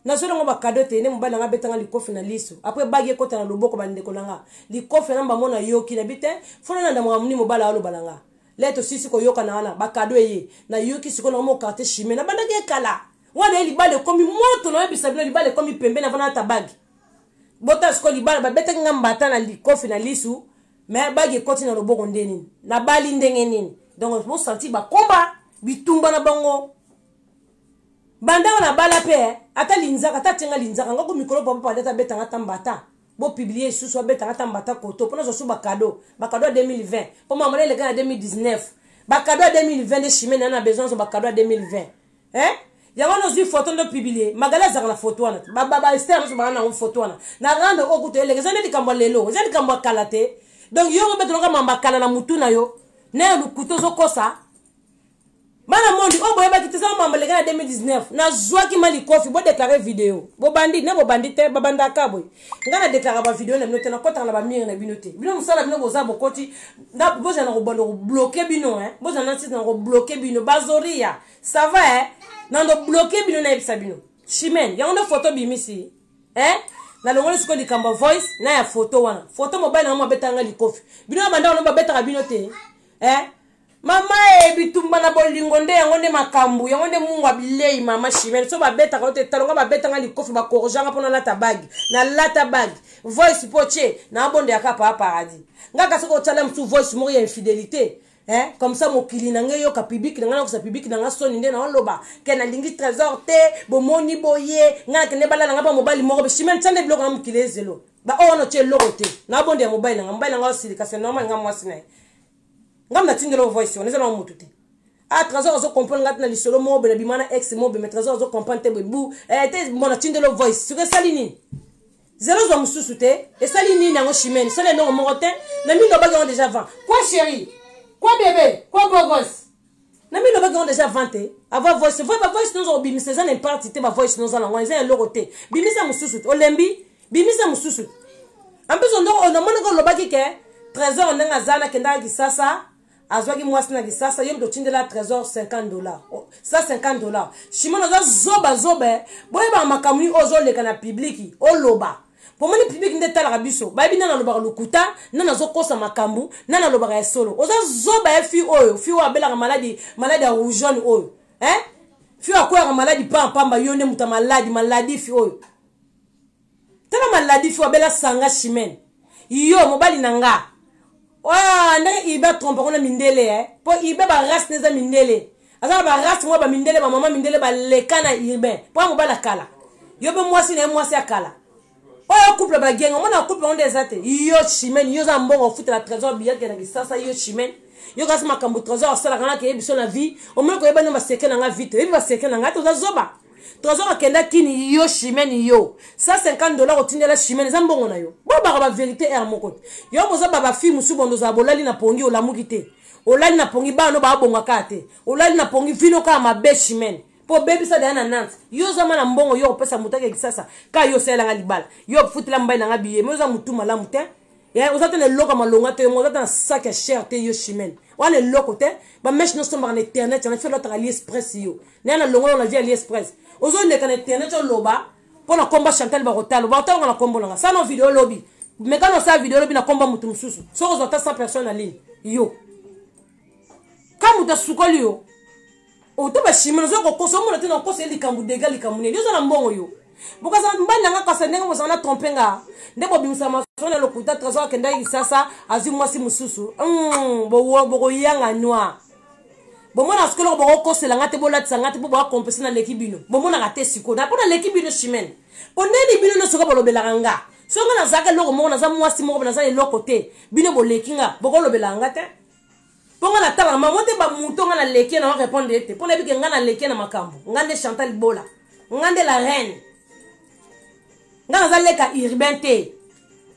nazweli yango bakado te nde mobali nanga abetanga likofi na liso apres bagi ekota na loboko bandeko na nga likofi na mbango nayoki na bi te fona na ndamaka moni mobali aoloba na nga le tosisi koyokana wana bakado eye nayoki sikoyo nango mokarte chimene nabandaki ekala wana ye libala ekomi moto nayebisa bino libala ekomi pembe na vana ata bagi bota sikoyo libala babetaki nga mbata na likofi na lisu me bagi ekoti na loboko nde nini nabali ndenge nini donc bosanti bakomba bitumba na bango bandanga nabala mpe eh, ata linzaka ata atyanga linzaka ngako mikolo papa pade ata betanga ata mbata bopiblie lisusu abetanga ata mbata koto mpo nazwa su bakado bakado ya 2020 mpo mama na eleka na 2019 bakado ya 2020 nde chimene na besoin azwa bakado ya 2020 hein yango wana ozwi foto nde opublie magala azalaka na foto wana baester nyonso baa nango foto wana na rande oyo kutu eleka eza nde likambo ya lelo eza likambo ya kala te donk yo ngo betoloka mamba kala na motu na yo na ya lokuta ozokosa bana mondi oyo boyebaki te eza mamba leka na 2019 nazwaki ma likofi bodeklare video bobandi ne bobandi te babandaka boye ngai nadeklare bavideo na bino te nakotaka na bamire na bino te bino mosala bino boza bokoti bozala na kobanda kobloke bino bozala na ntina na kobloke bino bazoria ça va eh? nando bloke bino nayebisa bino chimene yango nde foto bimisi eh? nalongoli sikoyo likambo ya voice na ya foto wana foto mobali nango mabetaka ngai likofi bino banda wana babetaka bino te eh? mama e bitumba na bolingo nde yango nde makambo yango nde mungu ya bilei mama chimene so babetaka yo te talonga babeta ngai likofi bakorjanga mpo nalata bagi nalata bagi voice mpo tie naabondeyaka paa paradis ngai kasi okotala mosusu voice moko ya infidélité eh, comme ça mokili na ngai eyoka publiki na ngai nakosa publiki na ngai soni nde naoloba ke nalingi trésor te bomoni boye ngai nakende bala na ngai mpa mobali moko beshimene tia nde biloko na mokili ezelo baoyo wana otye eloko te nabondi ya mobali na ngai mobali na ngai osilika se normal ngai mwasi na ye ngai natindela ovoice wana eza na motu te ah trésor azo comprendre ngai te na lisolo moko boye na bima na ex moko boye mais trésor azo comprendre te boye bu eh, te mona tindela ovoice soki esali nini zelo zwa mosusu te esali nini yango chimene sala eloko moko te na mino obaki yango deja vent kwa chéri kwa bebe kwa bogos na mino obaki yango deja vent te ava voice voi bavoice noza kobimisa eza na imparte te bavoice noza nango eza eloko te bimisa mosusu te olembi bimisa mosusu te en plus ondoko onamonaka olobaki ke trésor ndenge aza nakendaka kisasa azwaki mwasi na lisasa yo moto otindela trésor 50 dollar 150 dollar shimon oza zoba zoba eh. boyebaka makambo nini ozoleka na pibliki oloba pomoni pibliki nde etalaka biso bayebi nani alobaka lokuta nani azokosa makambo nani alobaka ya solo oza zoba ya eh, fi oyo fi oyo abelaka maladi maladi ya rougeone oyo eh? fi oyo akweyaka maladi paa pamba yo nde moto ya maladi maladi fi oyo tala maladi fo abela sanga chimene yo mobali na nga ah, ndenge ibe atrompe yango na mindele eh? mpo ibe barace na eza mindele aza na barace mwa bamindele bamama mindele baleka na urbain mpo ya mobali akala yo mpe mwasi na ye mwasi akala oyo oh, couple bagenga omona couple yango nde eza te yo chimene yo oza mbongo ofutela trésor biyake na kisasa yo chimene yo kasi makambo trésor asalaka naka yebiso na vie omoni koyeba nde baseke na nga vie te oyebi baseke na nga te oza zoba toza kokenda kini yo chimene yo 150 dollar otindela chimene eza mbongo na yo bobaka baverité r moko te yo boza babafi mosusu bondo ozala bolali na pongi olamuki te olali na pongi bana no baabonga kaka te olali na pongi vino kaka mabe chimene mpo obebisa daya na nante yo ozama na mbongo yo okopesa moto ake kisasa ka yo osalelanga libala yo ofutela mbai nanga biye me oza motu malamu te Eh, oza te na eloko ya malonga te yongo oza te na sak ya cher te yo chimene oza na eloko te bameshe nosombaka na internet yana felo ataka aliexpress yo naye na longo yo na vie aliexpress ozoleka na internet oloba mpo na komba chantal bakotala bakotalaka na kombo nanga sano video olobi mekana osala video olobi na komba moto mosusu soki ozwa ata 100 personne na ligne yo ka moto asukoli yo oto bashimi nazoya kokosa omona te na kokosa ye likambo dega likambo nini oza na mbongo yo bokazala mbali na nga kasi ndenge bozala na trompe nga nde bobimisa masolo na lokuta trésor akendaki kisasa azwi mwasi mosusu hmm, bokoyanga noir bomona sikoyo eloko bokokosela nga te bolatisa nga te mpo boakompese naleki bino bomonaka te sikoyo na mpo naleki bino chimene mpo nini bino nyonso ka bolobelaka nga soki nga nazalaka eloko moko naza mwasi moko naza eloko te bino boleki nga bokolobelaka nga te mpo ngai natalaka mango te bamoto ngai naleki na orepondre ye te mpo nayebi ke ngai naleki na makambo ngai nde chantal bola ngai nde la reine ngai naza leka urbain te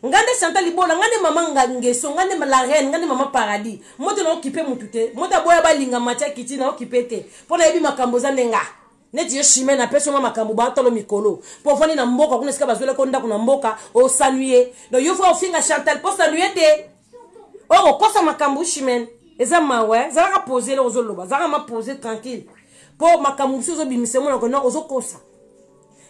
ngai nde chantal libola ngai nde mama ngangeso ngai nde la reine ngai nde mama paradis moto naokipe motu te moto aboya balinga matia kiti naokipe te mpo nayebi makambo eza nde ngai neti yo chime napesi nga makambo batolo mikolo mpo ofandi na mboka kuna esika bazwelaki ndako na mboka osanwi ye donc yo fo ofinga chantal mpo osanwi ye te okokosa oh, makambo chimene eza mawa eh? zalaka pose eloko ozoloba zalaka ma pose tranquille mpo makambo mosusu ozobimisa emonako no ozokosa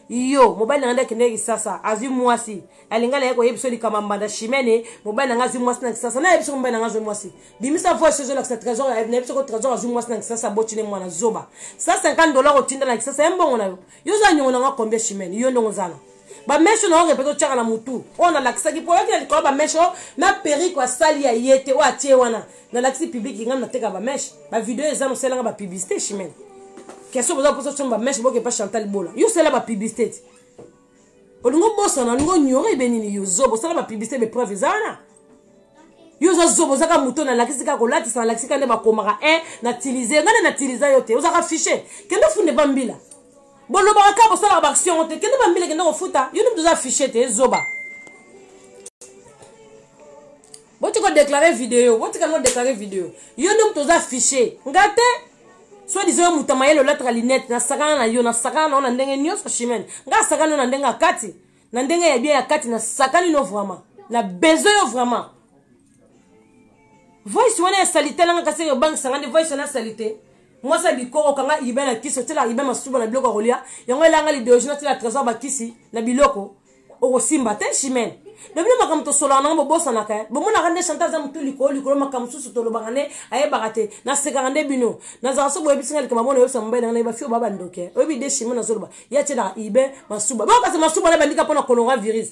yo mobali na ngai nde akendeki kisasa azwi mwasi alinga na ye koyebisa likambo mbanda chimene mobali na ngai azwi mwasi na kisasa nayebi soko mobali na ngai azwi mwasi bimisa voice ozolakisa trésor nayebi soko trésor azwi mwasi na kisasa aboti ne mwana zoba 150 dola kotinda na kisasa ye mbongo na yo yo oza nyongo na ngai combien chimene yo ndongo ozana bameshe na yo répète otyaka na motu oyo nalakisaki mpo oyaki na likolo bameshe oyo na perike asali ya ye te oyo atie wana nalakisi publiki ngai nateka bameshe bavideo eza nosalanga bapublicité chimene question boza mposa otyanga bameshe boke mpa chantal bola yo osala bapublicité te olingi obosana olingi onyore ebe nini yo zobo osala bapublicité bepreuve eza wana yo oza zobo ozaka moto nalakisi kaka kolatisa nalakisi kaka nde bakomaka e natilize ngai nde natiliza yo te ozaka fiche kende ofunde bambila bolobaka kaka bosalaka baaction yango te kende bambila kende kofuta yo nimi toza affiche te ezoba boti kodeklare video botika no deklare video yo nimi toza affiche nga te soit disant yo moto mayele olataka linete nasakana na yo nasakana na yo na ndenge nyonso chimene nga asakani yo na ndenge ya kati na ndenge ya bien ya kati nasakani no vraiment na besoin yo vraiment voice wana ya salite nanga kasi ebangisanga nde voice wana ya salite mwasi ya bikoro kanga ibe na kisi otyela ibe masuba na biloko ya kolya yango elanga lideologie natyela trésor bakisi na biloko okosimba te chimene lobino makambo tosolaka nango bobosanaka eh. bomonaka nde chante aza motu likolo likolo makambo mosusu tolobaka nde ayebaka te nasekaka nde bino nazalaka soki boyebisi ngai likambo mona oyebisa mobali nanga nayeba fio ba bandoke eh. oyebi de chimene azoloba ye atyelaka ibe masuba bokasi masuba na bandika mpo na kolonga virus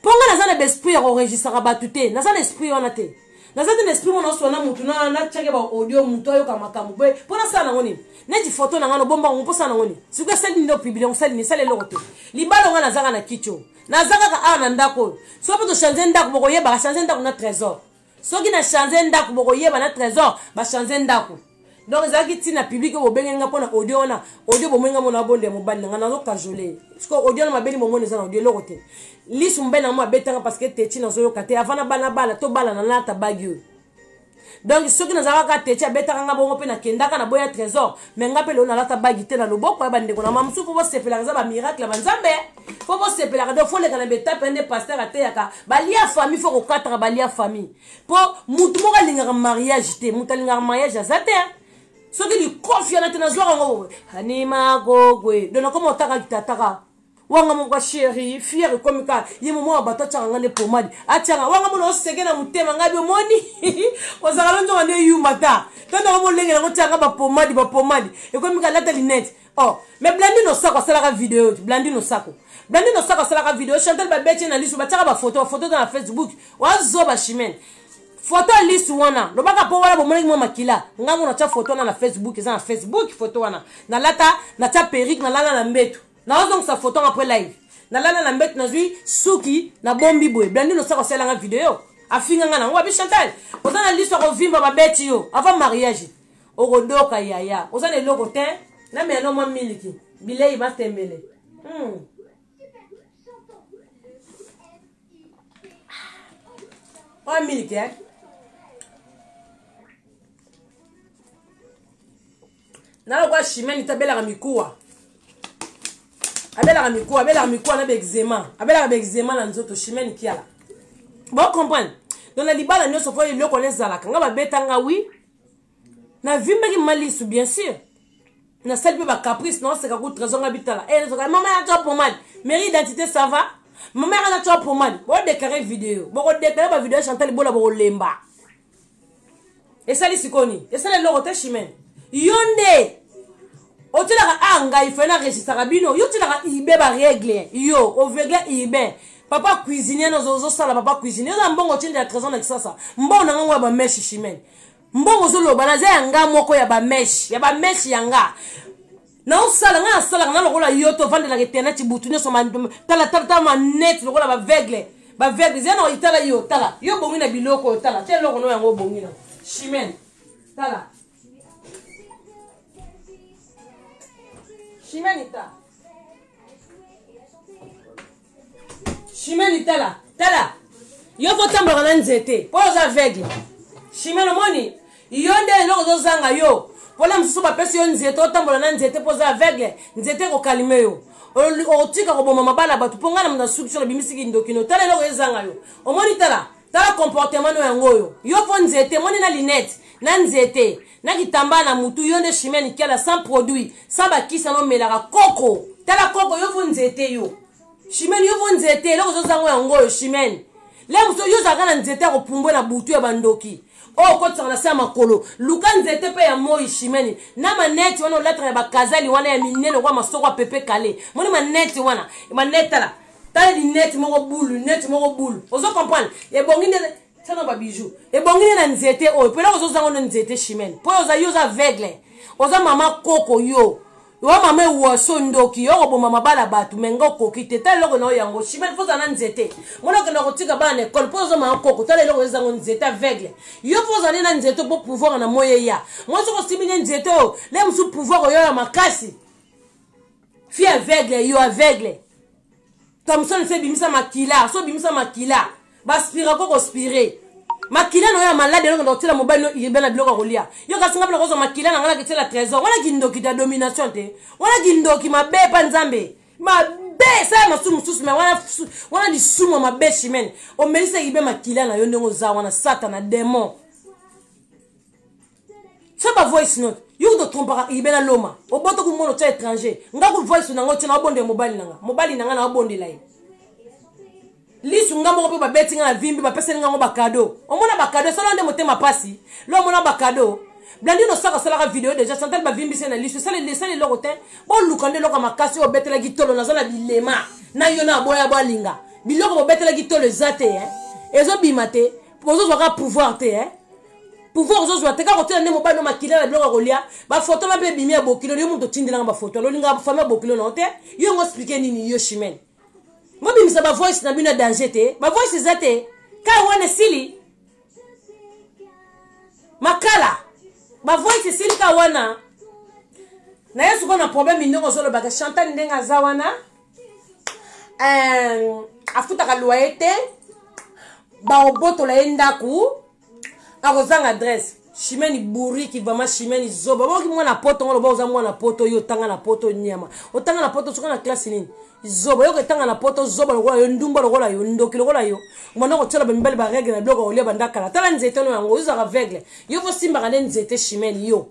mpo ngai naza na baesprit ya koregisaka bato te naza na esprit wana te naza te na esprit mona oswa na motu natyake baaudio motu ayoka makambo boye mpo nasala nango nini neti foto na ngai nobomba yango mpo sala nango nini sikoyo esali nini opiblia osali nini esali eloko te libala ngai nazaka na kicho naza kaka awa na ndako oyo soki mpe tochange ndako bokoyebaka change ndako na trésor soki na change ndako bokoyeba na trésor bachange ndako donc ezalaki ntina publike oyo bobenge nga mpo na audio wana audio bomoni nga mona abonde ya mobali na nga nazokajole siko audio wana mabeli momoni eza na audio eloko te lisu mobali na yango abetanga parce que techi nazoyoka te avant nabana bala tobalana nalata bagi oyo donc soki nazalaka techi abetaka nga bongo mpe nakendaka na boya trésor me nga mpe lelo nalata bagi te na loboko ya bandeko na mamosusu mpo bosepelaka eza bamiracle ya banzambe fo bosepelaka donc fo leka na betape ya nde paster ateyaka balia famille fo kokataka balia famille mpo motu moko alingaka mariage te motu alingaka mariage aza te soki likofi yana te nazwaka yango anima gogwe don nakoma otaka kitataka wanga moko ya sheri fiere ekomi ka ye moma ya bato atyaka ngai nde pomadi atyaka wanga mona oseke na motema ngai biomoni ozalaka lonjonga nde yuma ta to ndaka molenge yango tyaka bapomadi bapomadi ekomi ka lata linete Oh, mais Blandino Sako asalaka video te. Blandino Sako. Blandino Sako asalaka video. Chantal babeti na lisu batiaka ba photo, photo dans la Facebook. Wazo ba chimene. Photo ya lisu wana. Lobaka po wana bomonaki mwa makila. Ngango na tia photo wana na Facebook, eza na Facebook photo wana. Na lata, na tia perruque, na lala na mbetu. Na wazo ngisa photo après live. Na lala na mbetu nazui suki na bombi boye. Blandino Sako asalaka video. Afinga nga na ngo abi Chantal. Oza na lisu akovimba babeti yo avant mariage. okodoka yaya oza na eloko te na meyano mwa miliki bilei matembele hmm. oyo miliki eh? na lokola chimene te abelaka mikuwa abelaka mikuwa abelaka mikuwa na baexema abelaka baexema na nzoto chimene kiala bocomprendre donc na libala nyonso mpo eloko wana ezalaka nga babeta nga wi navimbaki mama lisu bien sûr nasali mpe bacaprice naoseka ku trésor nga bitala e eh, zoka mama yaka twa pomade mairie identité ça va mama yaka na twa pomade bodeklare video bokodeklare bavideo ya chantal bola bokolemba esali sikoni esali eloko te chimene yo nde otyelaka a ah, ngai fai na regisaka bino yo otyelaka ibe baregle yo ovegle ibe papa cuisinier na ozosala papa cuisinier oza mbongo cindi ya trésor na kisasa mbongo na ngango ya bameshe chimene mbongo ozoloba naza ya nga moko ya bameshe ya bameshe ya nga naosala ngai nasalaka na lokola yo to vandelaka internet butu nyonso talatala manete lokola baveugle baveugle zia na itala yo tala yo bongi na biloko oyo tala te eloko no yango obongi na chimene tala chimene ta shimeni tala tala yo fotambolaka na nzete mpo oza aveugle shimeni omoni yo nde eloko ozozanga yo mpona mosusu bapesi yo nzete otambola na nzete mpo oza aveugle nzete ekokalime yo otika koboma mabala bato mpo ngai na nasuki so nabimisi kindokino tala eloko ezanga yo omoni tala tala comportement no yango oyo yo mpo nzete moni na linete na nzete na kitambaa na mutu yo nde chimie nikiala sans produit sans bakisa nomelaka koko tala koko yo vo nzete yo chimene yo vo nzete eloko ozozango yango oyo chimene le mosusu yo ozalaka na nzete ya kopumbwe na butu ya bandoki oyo oh, okotisaka na se ya makolo luka nzete mpe ya moi shimeni na maneti wana olataka ya bakazali wana ya minene okwa masoko ya pepe kale moni maneti wana maneti tala tala lineti moko bulu lineti moko bulu ozo comprendre ebongi nde tana ba bijou ebongi nde na nzete oyo mpona ozozanga ono nzete chimene mpo oza yo oza aveugle oza mama koko yo oa mama ewaso ndoki yo okoboma mabala bato me nga okoki te tala eloko na yo yango chimene mpo oza na nzete mona okenda kotika bana na ekole mpo oza mama koko tala eloko ezango nzete aveugle yo mpo ozali na nzete mpo pouvoir na moi eya mwasi okosimbi nde nzete oyo le mosusu pouvoir oyo ya makasi fi aveugle yo aveugle kamsoni so ebimisa makila so obimisa makila baspira ko kospire makila na oyo ya malade eloko na kotyela mobali no yeba na biloko ya kolia yo kasi nga mpona kozwa makila na ngai naketyela trésor wana kindoki ta domination te wana kindoki mabe epa nzambe mabe esala masumu mosusu me wana lisumu ya mabe chimene omelisaki mpe makila na yo ndenge oza wana satana demon fais ba voice note yo kutu otrompaka ibela loma obota kumona otya étranger nga ku voice na nga otya naobondela mobali na nga mobali na nga naobondela ye lisu nga moko mpe babeti nga na vimbi bapeseli nga yango bakado omona bakado esala nde motema mpasi lo omona bakado blandino saka asalaka video deja chantal bavimbisi ye na lisu esala eloko te boluka nde eloko ya makasi oyo obetelaki tolo naza na bilema na yo na aboya balinga biloko bobetelaki tolo eza te ezobima te bozozwaka pouvoir te eh? pouvoir ozozwa te kaka otyela nde mobali no makila na biloko ya kolya bafoto na mpe ebimi ya bokilo yo moto otindelanga bafoto alolinga fami ya bokilo na yo te yo yango explike nini yo chimene bobimisa bavoice na bino ya danger te bavoice eza te kai wana esili makala bavoice esili ka wana na ye sikoyo na problème ndenge ozolobaka chantal ndenge aza wana euh, afutaka loye te bakobotola ye ndako akozanga adresse shimeni buriki vraimen shimeni zoba baoki mwana poto ngo loba oza mwana poto yo otanga na poto nyama otanga na poto soki na klase nini zoba yo kotanga na poto zoba lokola yo ndumba lokola yo ndoki lokola yo mwana kotyela bamibali baregle na biloko olia bandakala tala nzete no yango ozalaka vegle yo kosimbaka nde nzete shimeni yo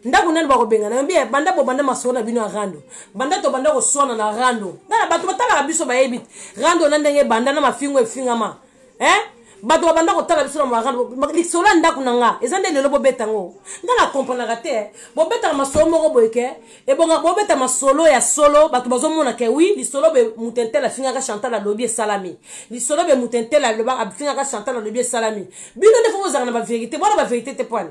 ndako nani bakobengana yambi eh, banda bobanda masolo na bino ya rando banda tobanda koswana na rando ngana bato batalaka biso bayebi rando na ndenge banda na mafingo efingama eh? bato babanda kotala biso na marando lisolo ya ndako na nga eza nde lelo bobeta yango nga na komprenaka te eh. bobetaka masolo moko boye ke ebonga bobeta masolo ya solo bato bazomona ke wi lisolo be mutentele afingaka chantal alobi esalami lisolo be mutentele afingaka chantal alobi esalami bino nde fo bozalaka na baverité bwana baverité te pwani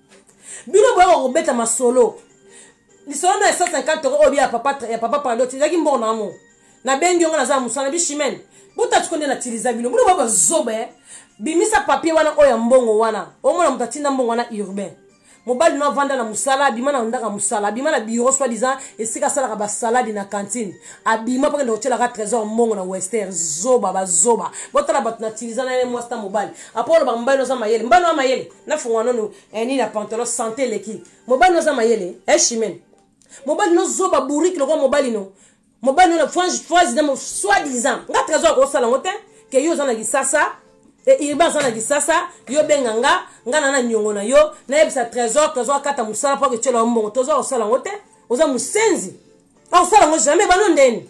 bino boyaka kobeta masolo lisolo na ya 150 euro oyo ya papa ya papa pando ti ezalaki mbongo na mo nabengi yongo naza na mosala na bishimene botati ko nde natiliza bino bino baba zoba eh. bimisa papier wana oyo ya mbongo wana omona moto atinda mbongo wana urbain mobali no avanda na mosala abima na ndaka mosala abima na biro soit disant esika asalaka basaladi na cantine abima mpo kende kotyelaka trésor mbongo na wester zoba bazoba botala bato na tiliza na ye mwasi na mobali apo olobaka mobali no aza mayele mbano ya mayele nafungola nono eh, nini na pantalon sante eleki mobali no aza mayele eshimen eh, mobali no zoba bourike lokola mobali no mobali no na frange phrase na soit disant nga trésor akosala yango te ke yo oza na lisasa iriba aza na lisasa yo benga nga nga na na niongo na yo nayebisa trésor trésor akata mosala mpo aketyela yo mbongo toza kosala yango te oza mosenzi akosala yango jamais bano ndeni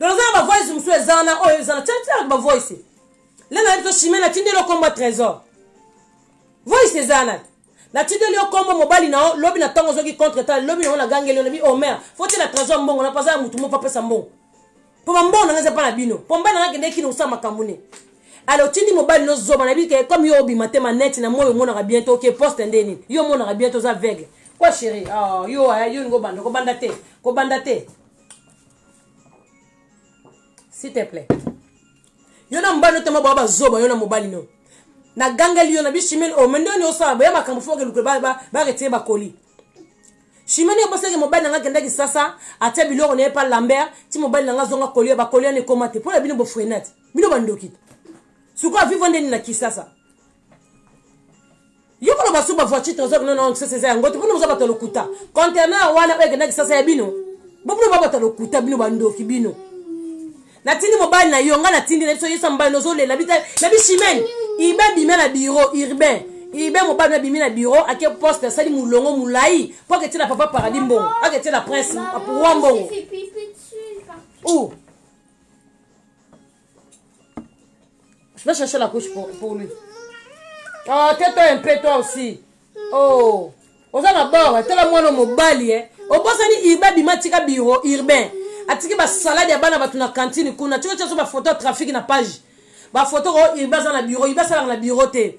mais oza na bavoice mosusu eza wana oyo eza na tiatiaka bavoice le nayebi to chimie natindeli yo nkombo ya trésor voice eza wana natindeli yo nkombo mobali na yo lobi na ntango ozoki contre tale lobi na yo nagangeli yo nabi omer oh, fo tiela trésor mbongo na paza ya motu moko apesa mbongo mpo bambongo nanga eza mpa na bino mpo mbai nanga kendeki na osala makambo ne alors otindi mobali no zoba nayebi ke comme yo obima te maneti na moi omonaka bien te oke poste nde nini yo omonaka bien te oza aveugle kwa chéri oh, yo eh, yo ningo obanda kobanda te kobanda te s'il te plaît yo na mobali otema baa bazoba yo na mobali no nagangeli yo na bi chimene o oh, mende oni osala boya makambo fo okeluke baretire bakoli chimene obosaki mobali nanga akendaki sasa atia biloko na ye pa lambert ti mobali nanga azonga kolia bakoli wana ekoma te mpo na bino bofrenate bino bandoki sikoyo aviva nde nini na kisasa yo koloba suba voiture trésor non non kisasa eza yango te mpona boza bato ya lokuta conteneur wana oyo ekenda kisasa ya bino bopona ba bato ya lokuta bino bandoki bino natindi mobali na yo ngai natindi na biso yesa mobali nozolela na bishimene ibe bima na biro urbain ibe mobali abimi na biro ake poste asali molongo molai mpo aketiela papa paradis mbongo aketiela prince roi mbongo Je vais chercher la couche pour, pour lui. Oh, tais-toi un peu, toi aussi. Oh, oza na bord, tala mwana mobali, eh. Obosani Iba bima tika biro urbain. Atiki ba salade ya bana batu na cantine kuna. Tiko tiko ba photo trafic na page. Ba photo ko Iba za na bureau, Iba sala na bureau te.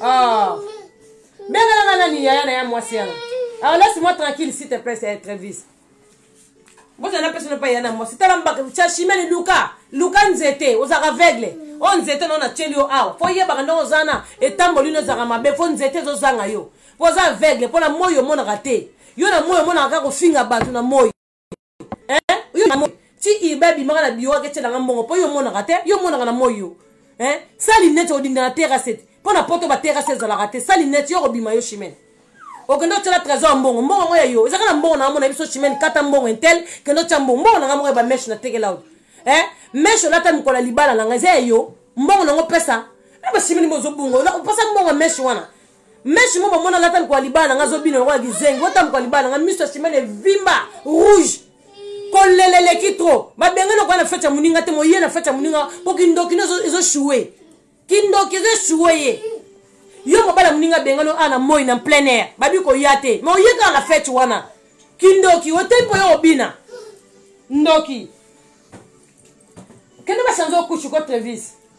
Oh. Benga nanga nani yaya na ya mwasi yana. Alors laisse-moi tranquille s'il te plaît, c'est Travis. Boza na personne pas yana mwasi. Tala mbaka cha chimene Luka. Luka nzete, ozaka aveugle. O nzete na na tieli yo awa. Fo yeba kanda ozana etamboli no zaka mabe, fo nzete zo zanga yo. Poza aveugle, pona moyo monaka te. Yo na moyo monaka kofinga bato na moyo. yo na moi ti ibe abimaka na biro aketya nanga mbongo mpo yo omonaka te yo omonaka na moi yo sali neti odinda na terase te mpo na poto baterase ezalaka te sali neti yo okobima yo chimene okende otyela trésor mbongo mbongo yango ya yo ezaka na mbongo nanga mona biso chimene kata mbongo intel kende otya mbongo mbongo nanga moko ya bameshe natekela oyo eh meshe olata mikolo ya libala nanga eza ya yo mbongo nango pesa na bachimene bozobunga opesa mbongo ya meshe wana meshi mo bamona lata lokola libala na nga azobina lokola kizengi ota mokola libala na nga miso ya simene evimba rouge kolela eleki tro babenga na koya na fete ya moninga te moye na fete ya moninga mpo kindoki no ezoshue kindoki ezoshue ye yo mobala moninga abengani a na moi na plein air babi koya te ma oye kaka na fete wana kindoki oteyi mpo yo obina ndoki kende basanze okushi ko trevis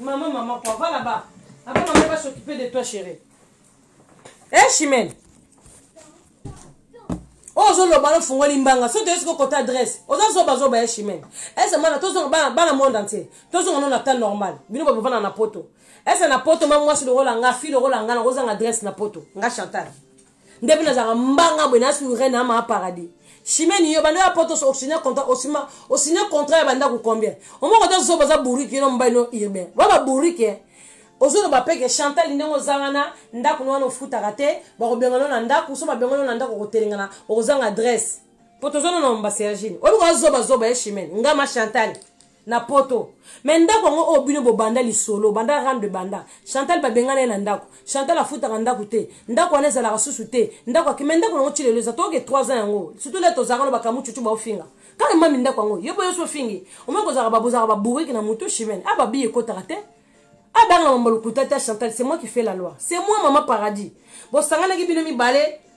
Maman, maman, quoi, va là-bas. Après, maman va s'occuper de toi, chérie. Eh, hey, Chimène. oyo ozoloba nofungoli mbanga soki toyesi kokota adresse oza zobazoba ya chimene ese mwana tozonga bana, bana monde entier tozonga no na temps normal bino babovanda na poto ese na poto ma mwasi lokola nga fi lokola nga nakozanga adresse na poto nga chantal nde mpe nazalaka mbanga boye nasurre na ma paradis chimene yo banda ya poto osine contrat osima osine contrat ya bandako combien omoko ta zoba za bourike no mobali no urbain ba ba bourike ozoloba mpe ke chantal ndenge oza wana ndako no wana ofutaka te bakobengana na ndako so babengana na ndako okotelengana okozanga adresse mpo toza no na mbasergine oyebi koza zobazoba ye chimene nga ma chantal na poto me ndako yango oyo bino bobanda lisolo banda rame de banda chantal babengana ye na ndako chantal afutaka ndako te ndako wana ezalaka susu te ndako ake me ndako yango ti lelo eza toke 3 ans yango surtout le tozalaka no bakamu cucu baofinga kaka mami ndako yango yo boyoso ofingi omoi kozalaka babozalaka baburiki na motu chimene a ah, babiye ekotaka te abanga ah, mambalukuta te chantal c'est moi qui fait la loi c'est moi mama paradis bosanganaki bino mibale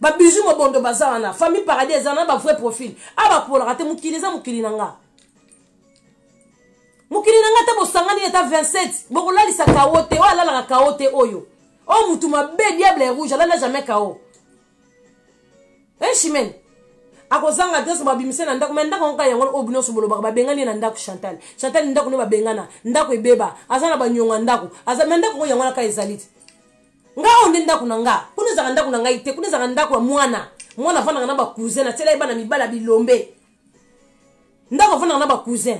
ba bijou mobondo baza wana famille paradis eza na ba vrai profil a bapolaka te mokili eza mokili na nga mokili na nga te bosangani ata 27 bokolalisa kao te oyo alalaka kao te oyo oyo motu mabe diable ya rouge alala jamais kao echimene eh, akozanga te so babimisa na ndako me ndako yango kaka yango oyo bino nyonso bolobaka babengani ye na ndako chantal chantal ndako nde babengana ndako ebeba aza na banyonga ndako aza me ndako yango yango na kaka ezali te nga oyo nde ndako na nga kuna ezalaka ndako na ngai te kuna ezalaka ndako ya mwana mwana afandaka na bacousin natyela ye bana mibali ya bilombe ndako afandaka na bacousin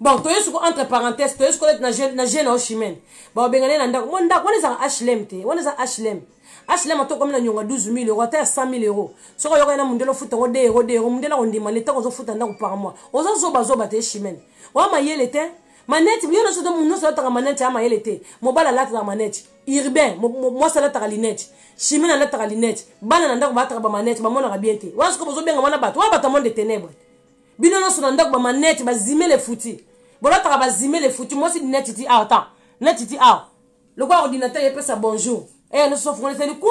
bon toye soko entre parenthèse toye soko neti na je na oshimene babengana ye na ndako mo ndako wana ezalaka hlm te wana eza hlm hlm ata okomi na nyonga 12 000 euro ata ya 100 000 euro soki oyoka ye na mondele ofuta yango 2 euro 2 euro mondele akondima leta ozofuta ndako par mois oza zobazoba te eshimene oya mayele te maneti yo nyonso te nyonso alataka maneti ya mayele te mobali alataka maneti urbain mwasi alataka lineti chimene alataka lineti bana na ndako balataka bamaneti bamonaka bien te wana sikoyo bozobenga wana bato wana bato ya monde tenebre bino nyonso na ndako bamaneti bazimele futi bolataka bazimele futi mwasi lineti ti awa ta neti ti awa lokola ordinateur epesa bonjour e eh, nyonso fokonesani kwa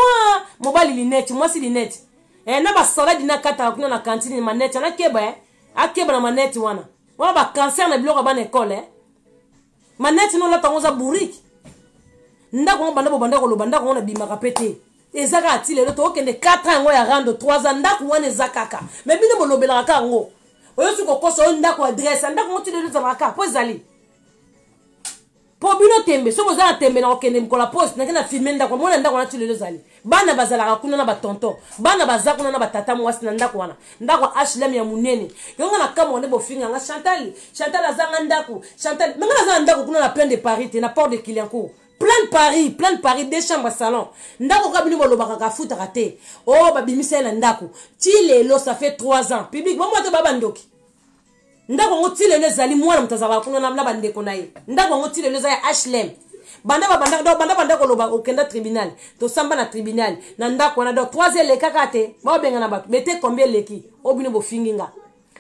mobali lineti mwasi lineti e eh, na basaladi nakataka kuna na kantine maneti anakeba e eh. akeba na maneti wana wana ba cancer na biloko ya bana ekole eh? maneti no olata yango oza bourrike ndako yango banda bobanda koloba ndako yango nabimaka mpe te eza kaka ti lelo tokokende 4 ans yango ya rando 3 ans ndako wana eza kaka me bino bolobelaka kaka yango oyosi kokosa oyo ndako adresse ya ndako yango ti lelo ezalaka kaka mpo ezali mpo bino tembe soki boza na tembe na kokende mokolo ya poste nake na filme ndako mona ndako wana ti lelo ezali bana bazalaka kuna na batonton bana baza kuna na batata mwasi na ndako wana ndako ya hlm ya monene yonga na kamwa nde bofinga nga chantal chantal azanga ndako chantal menga naza na ndako kuna na plein de paris te na port de kiliancour plein de paris plein de paris deux chambres salon ndako kaka bino bolobaka kafutaka te o oh, babimisa ye na ndako ti lelo ça fait 3 ans public bomwa te babandoki ndako yango ti lelo ezali mwana moto azalaka kuna na bandeko na ye ndako yango ti lelo eza ya hlm banda babanda donc banda banda koloba okenda tribunal tosamba na tribunal na ndako wana donc trois eleka kaka te baobengana bato bete combien eleki o bino bofingi nga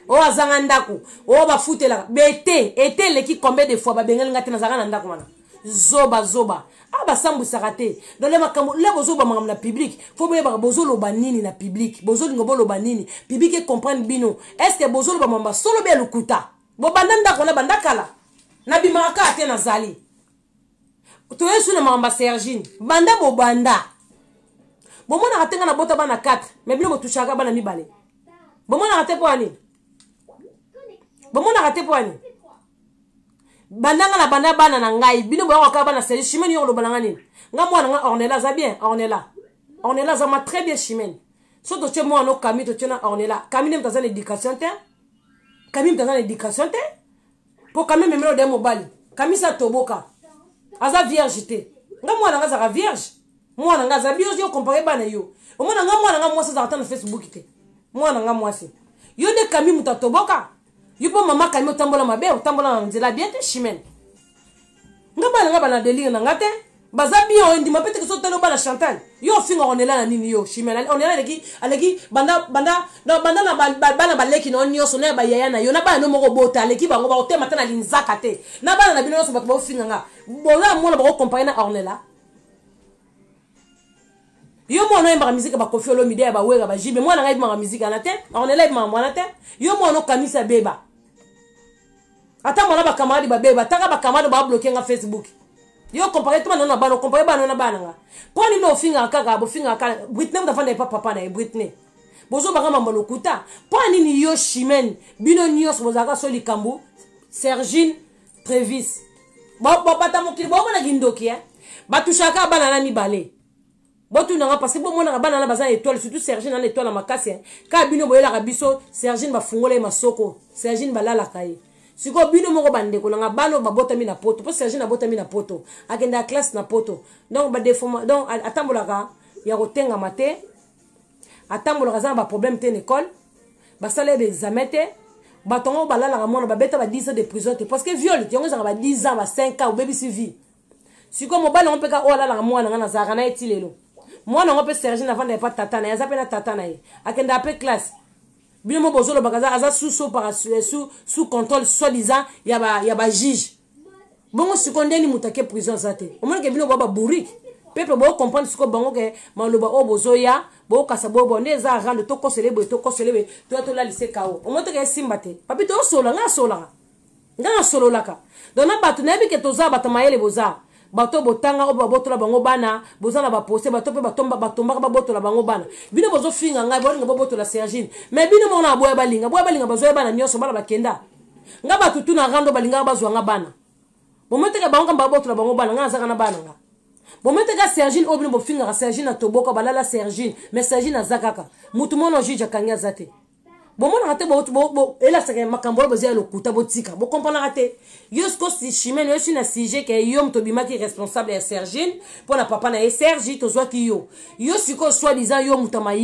oyo azanga ndako oyo bafutelaka bete ete eleki combien de fois babengani nga te nazalaka na ndako wana zoba zoba ah basambwisaka te donc le makambo le bozoloba makambo na publike fo boyebaka bozoloba nini na publike bozolinga boloba nini publike ecomprendre bino est ce que bozoloba makambo basolo be ya lokuta bobanda ndako wana banda kala nabimaka kaka te nazali toyesu na makambo ya sergine banda bobanda bomonaka te ngai nabota bana 4 mai bino botushaka bana mibale bomonaka te mpo ya nini bomonaka te mpo ya nini banda nga na banda bana na ngai bino boyaka kaka bana seli chimene yo oloba na nga nini nga mwana nga ornela aza bien ornela ornela aza ma très bien chimene so totie mwana o kami totie na ornela kami nde moto aza na éducation te kami moto aza na éducation te mpo kami ememela ode mobali kami sa toboka aza vierge te nga mwana nga azalaka vierge mwana nga aza vierge yo compare bana yo omona nga mwana nga mwasi azalaka ata na facebook te mwana nga mwasi yo nde kami moto atoboka yo mpo mama kami otambola mabe otambola na nzela bien te chimene nga bana nga bana delire na nga te baza bien oyendima mpe teke so tali obana chantal yo ofinga onela na nini yo chimene onela aleki aleki banda banda banda na bana baleki na yo nyonso na ya bayaya na yo na bana no moko obota aleki bango bakotema ata na linzaka te na bana na bino nyonso bato baofinga nga bola mona bakokompare na ornela yo mwana oyembaka miziki ya bakofi olomide ya bawera bajibe mwana ngai ebimaka miziki wana te ornela ebimaka mwana te yo mwana okanisa beba ata mwana bakamaradi babeba ataka bakamaradi babloke nga facebook yo compare tuma nano na bana compare bana na bana nga mpo nini ofingaka kaka bofingaka kaka britney mutu afanda epa papa na ye britney bozobaka mambo lokuta mpo nini yo chimene bino nyonso bozalaka so likambo sergine trevis bobata mokili bomona kindoki e batushaka bana na mibale botunanga parce bomonaka bana na baza na étoile surtout sergine ana étoile na makasi kaka bino boyelaka biso sergine bafungola ye masoko sergine balalaka ye sikoyo bino moko bandeko nanga bana oyo babotami na poto mpo sergine abotami na poto akendaka classe na poto donc donc atambolaka ya kotengama te atambolaka aza na baproblème te na école basala ye baexamen te bato yango balalaka mwana babeta ba 10 ans de prison te parce que viole yango ezalaka ba 10 ans ba 5 ans obebisi vie sikoyo mobali yango mpe kaka oyo alalaka mwana ngai nazalaka na ye ti lelo mwana yango mpe sergine avanda epa tata na ye aza mpe na tata na ye akendaka mpe classe bino mo bozolobaka aza sous opara sous contrôle soi disant ya bajuge bongo sikoyo nde ni moto ake prison aza te omonike bino boa babourike peuple bocomprendre sikoyo bango ke maloba oyo bozoya bokasa bobo nde eza rando tokosele boye tokosele boye toya tolalise kao omoi toke esimba te papi tosola ngai asolaka ngai asololaka donc na bato nayebi ke toza bato mayele boza bato oyo botanga oyo babotola bango bana boza na baprocès bato mpe batombaka babotola bango bana bino bozofinga ngai bolinga bobotola sergine mais bino moko na boya balinga boya balinga bazoya bana nyonso bana bakenda ngai bato tu na rando balingaka bazwa nga bana bometeka bango kamba babotola bango bana ngai nazaka na bana nga bometeka sergine oyo bino bofingaka sergine atoboka balala sergine mais sergine aza kaka motu mona juge akangi aza te bomonaka te elasaka makambo oyo boza ya lokuta botika bokomponaka te yo siko chimene yo si na sujet ke yo moto obimaki responsable ya sergine mpo na papa na ye sergi tozwaki yo yo sikoyo soi disant yo moto ya maye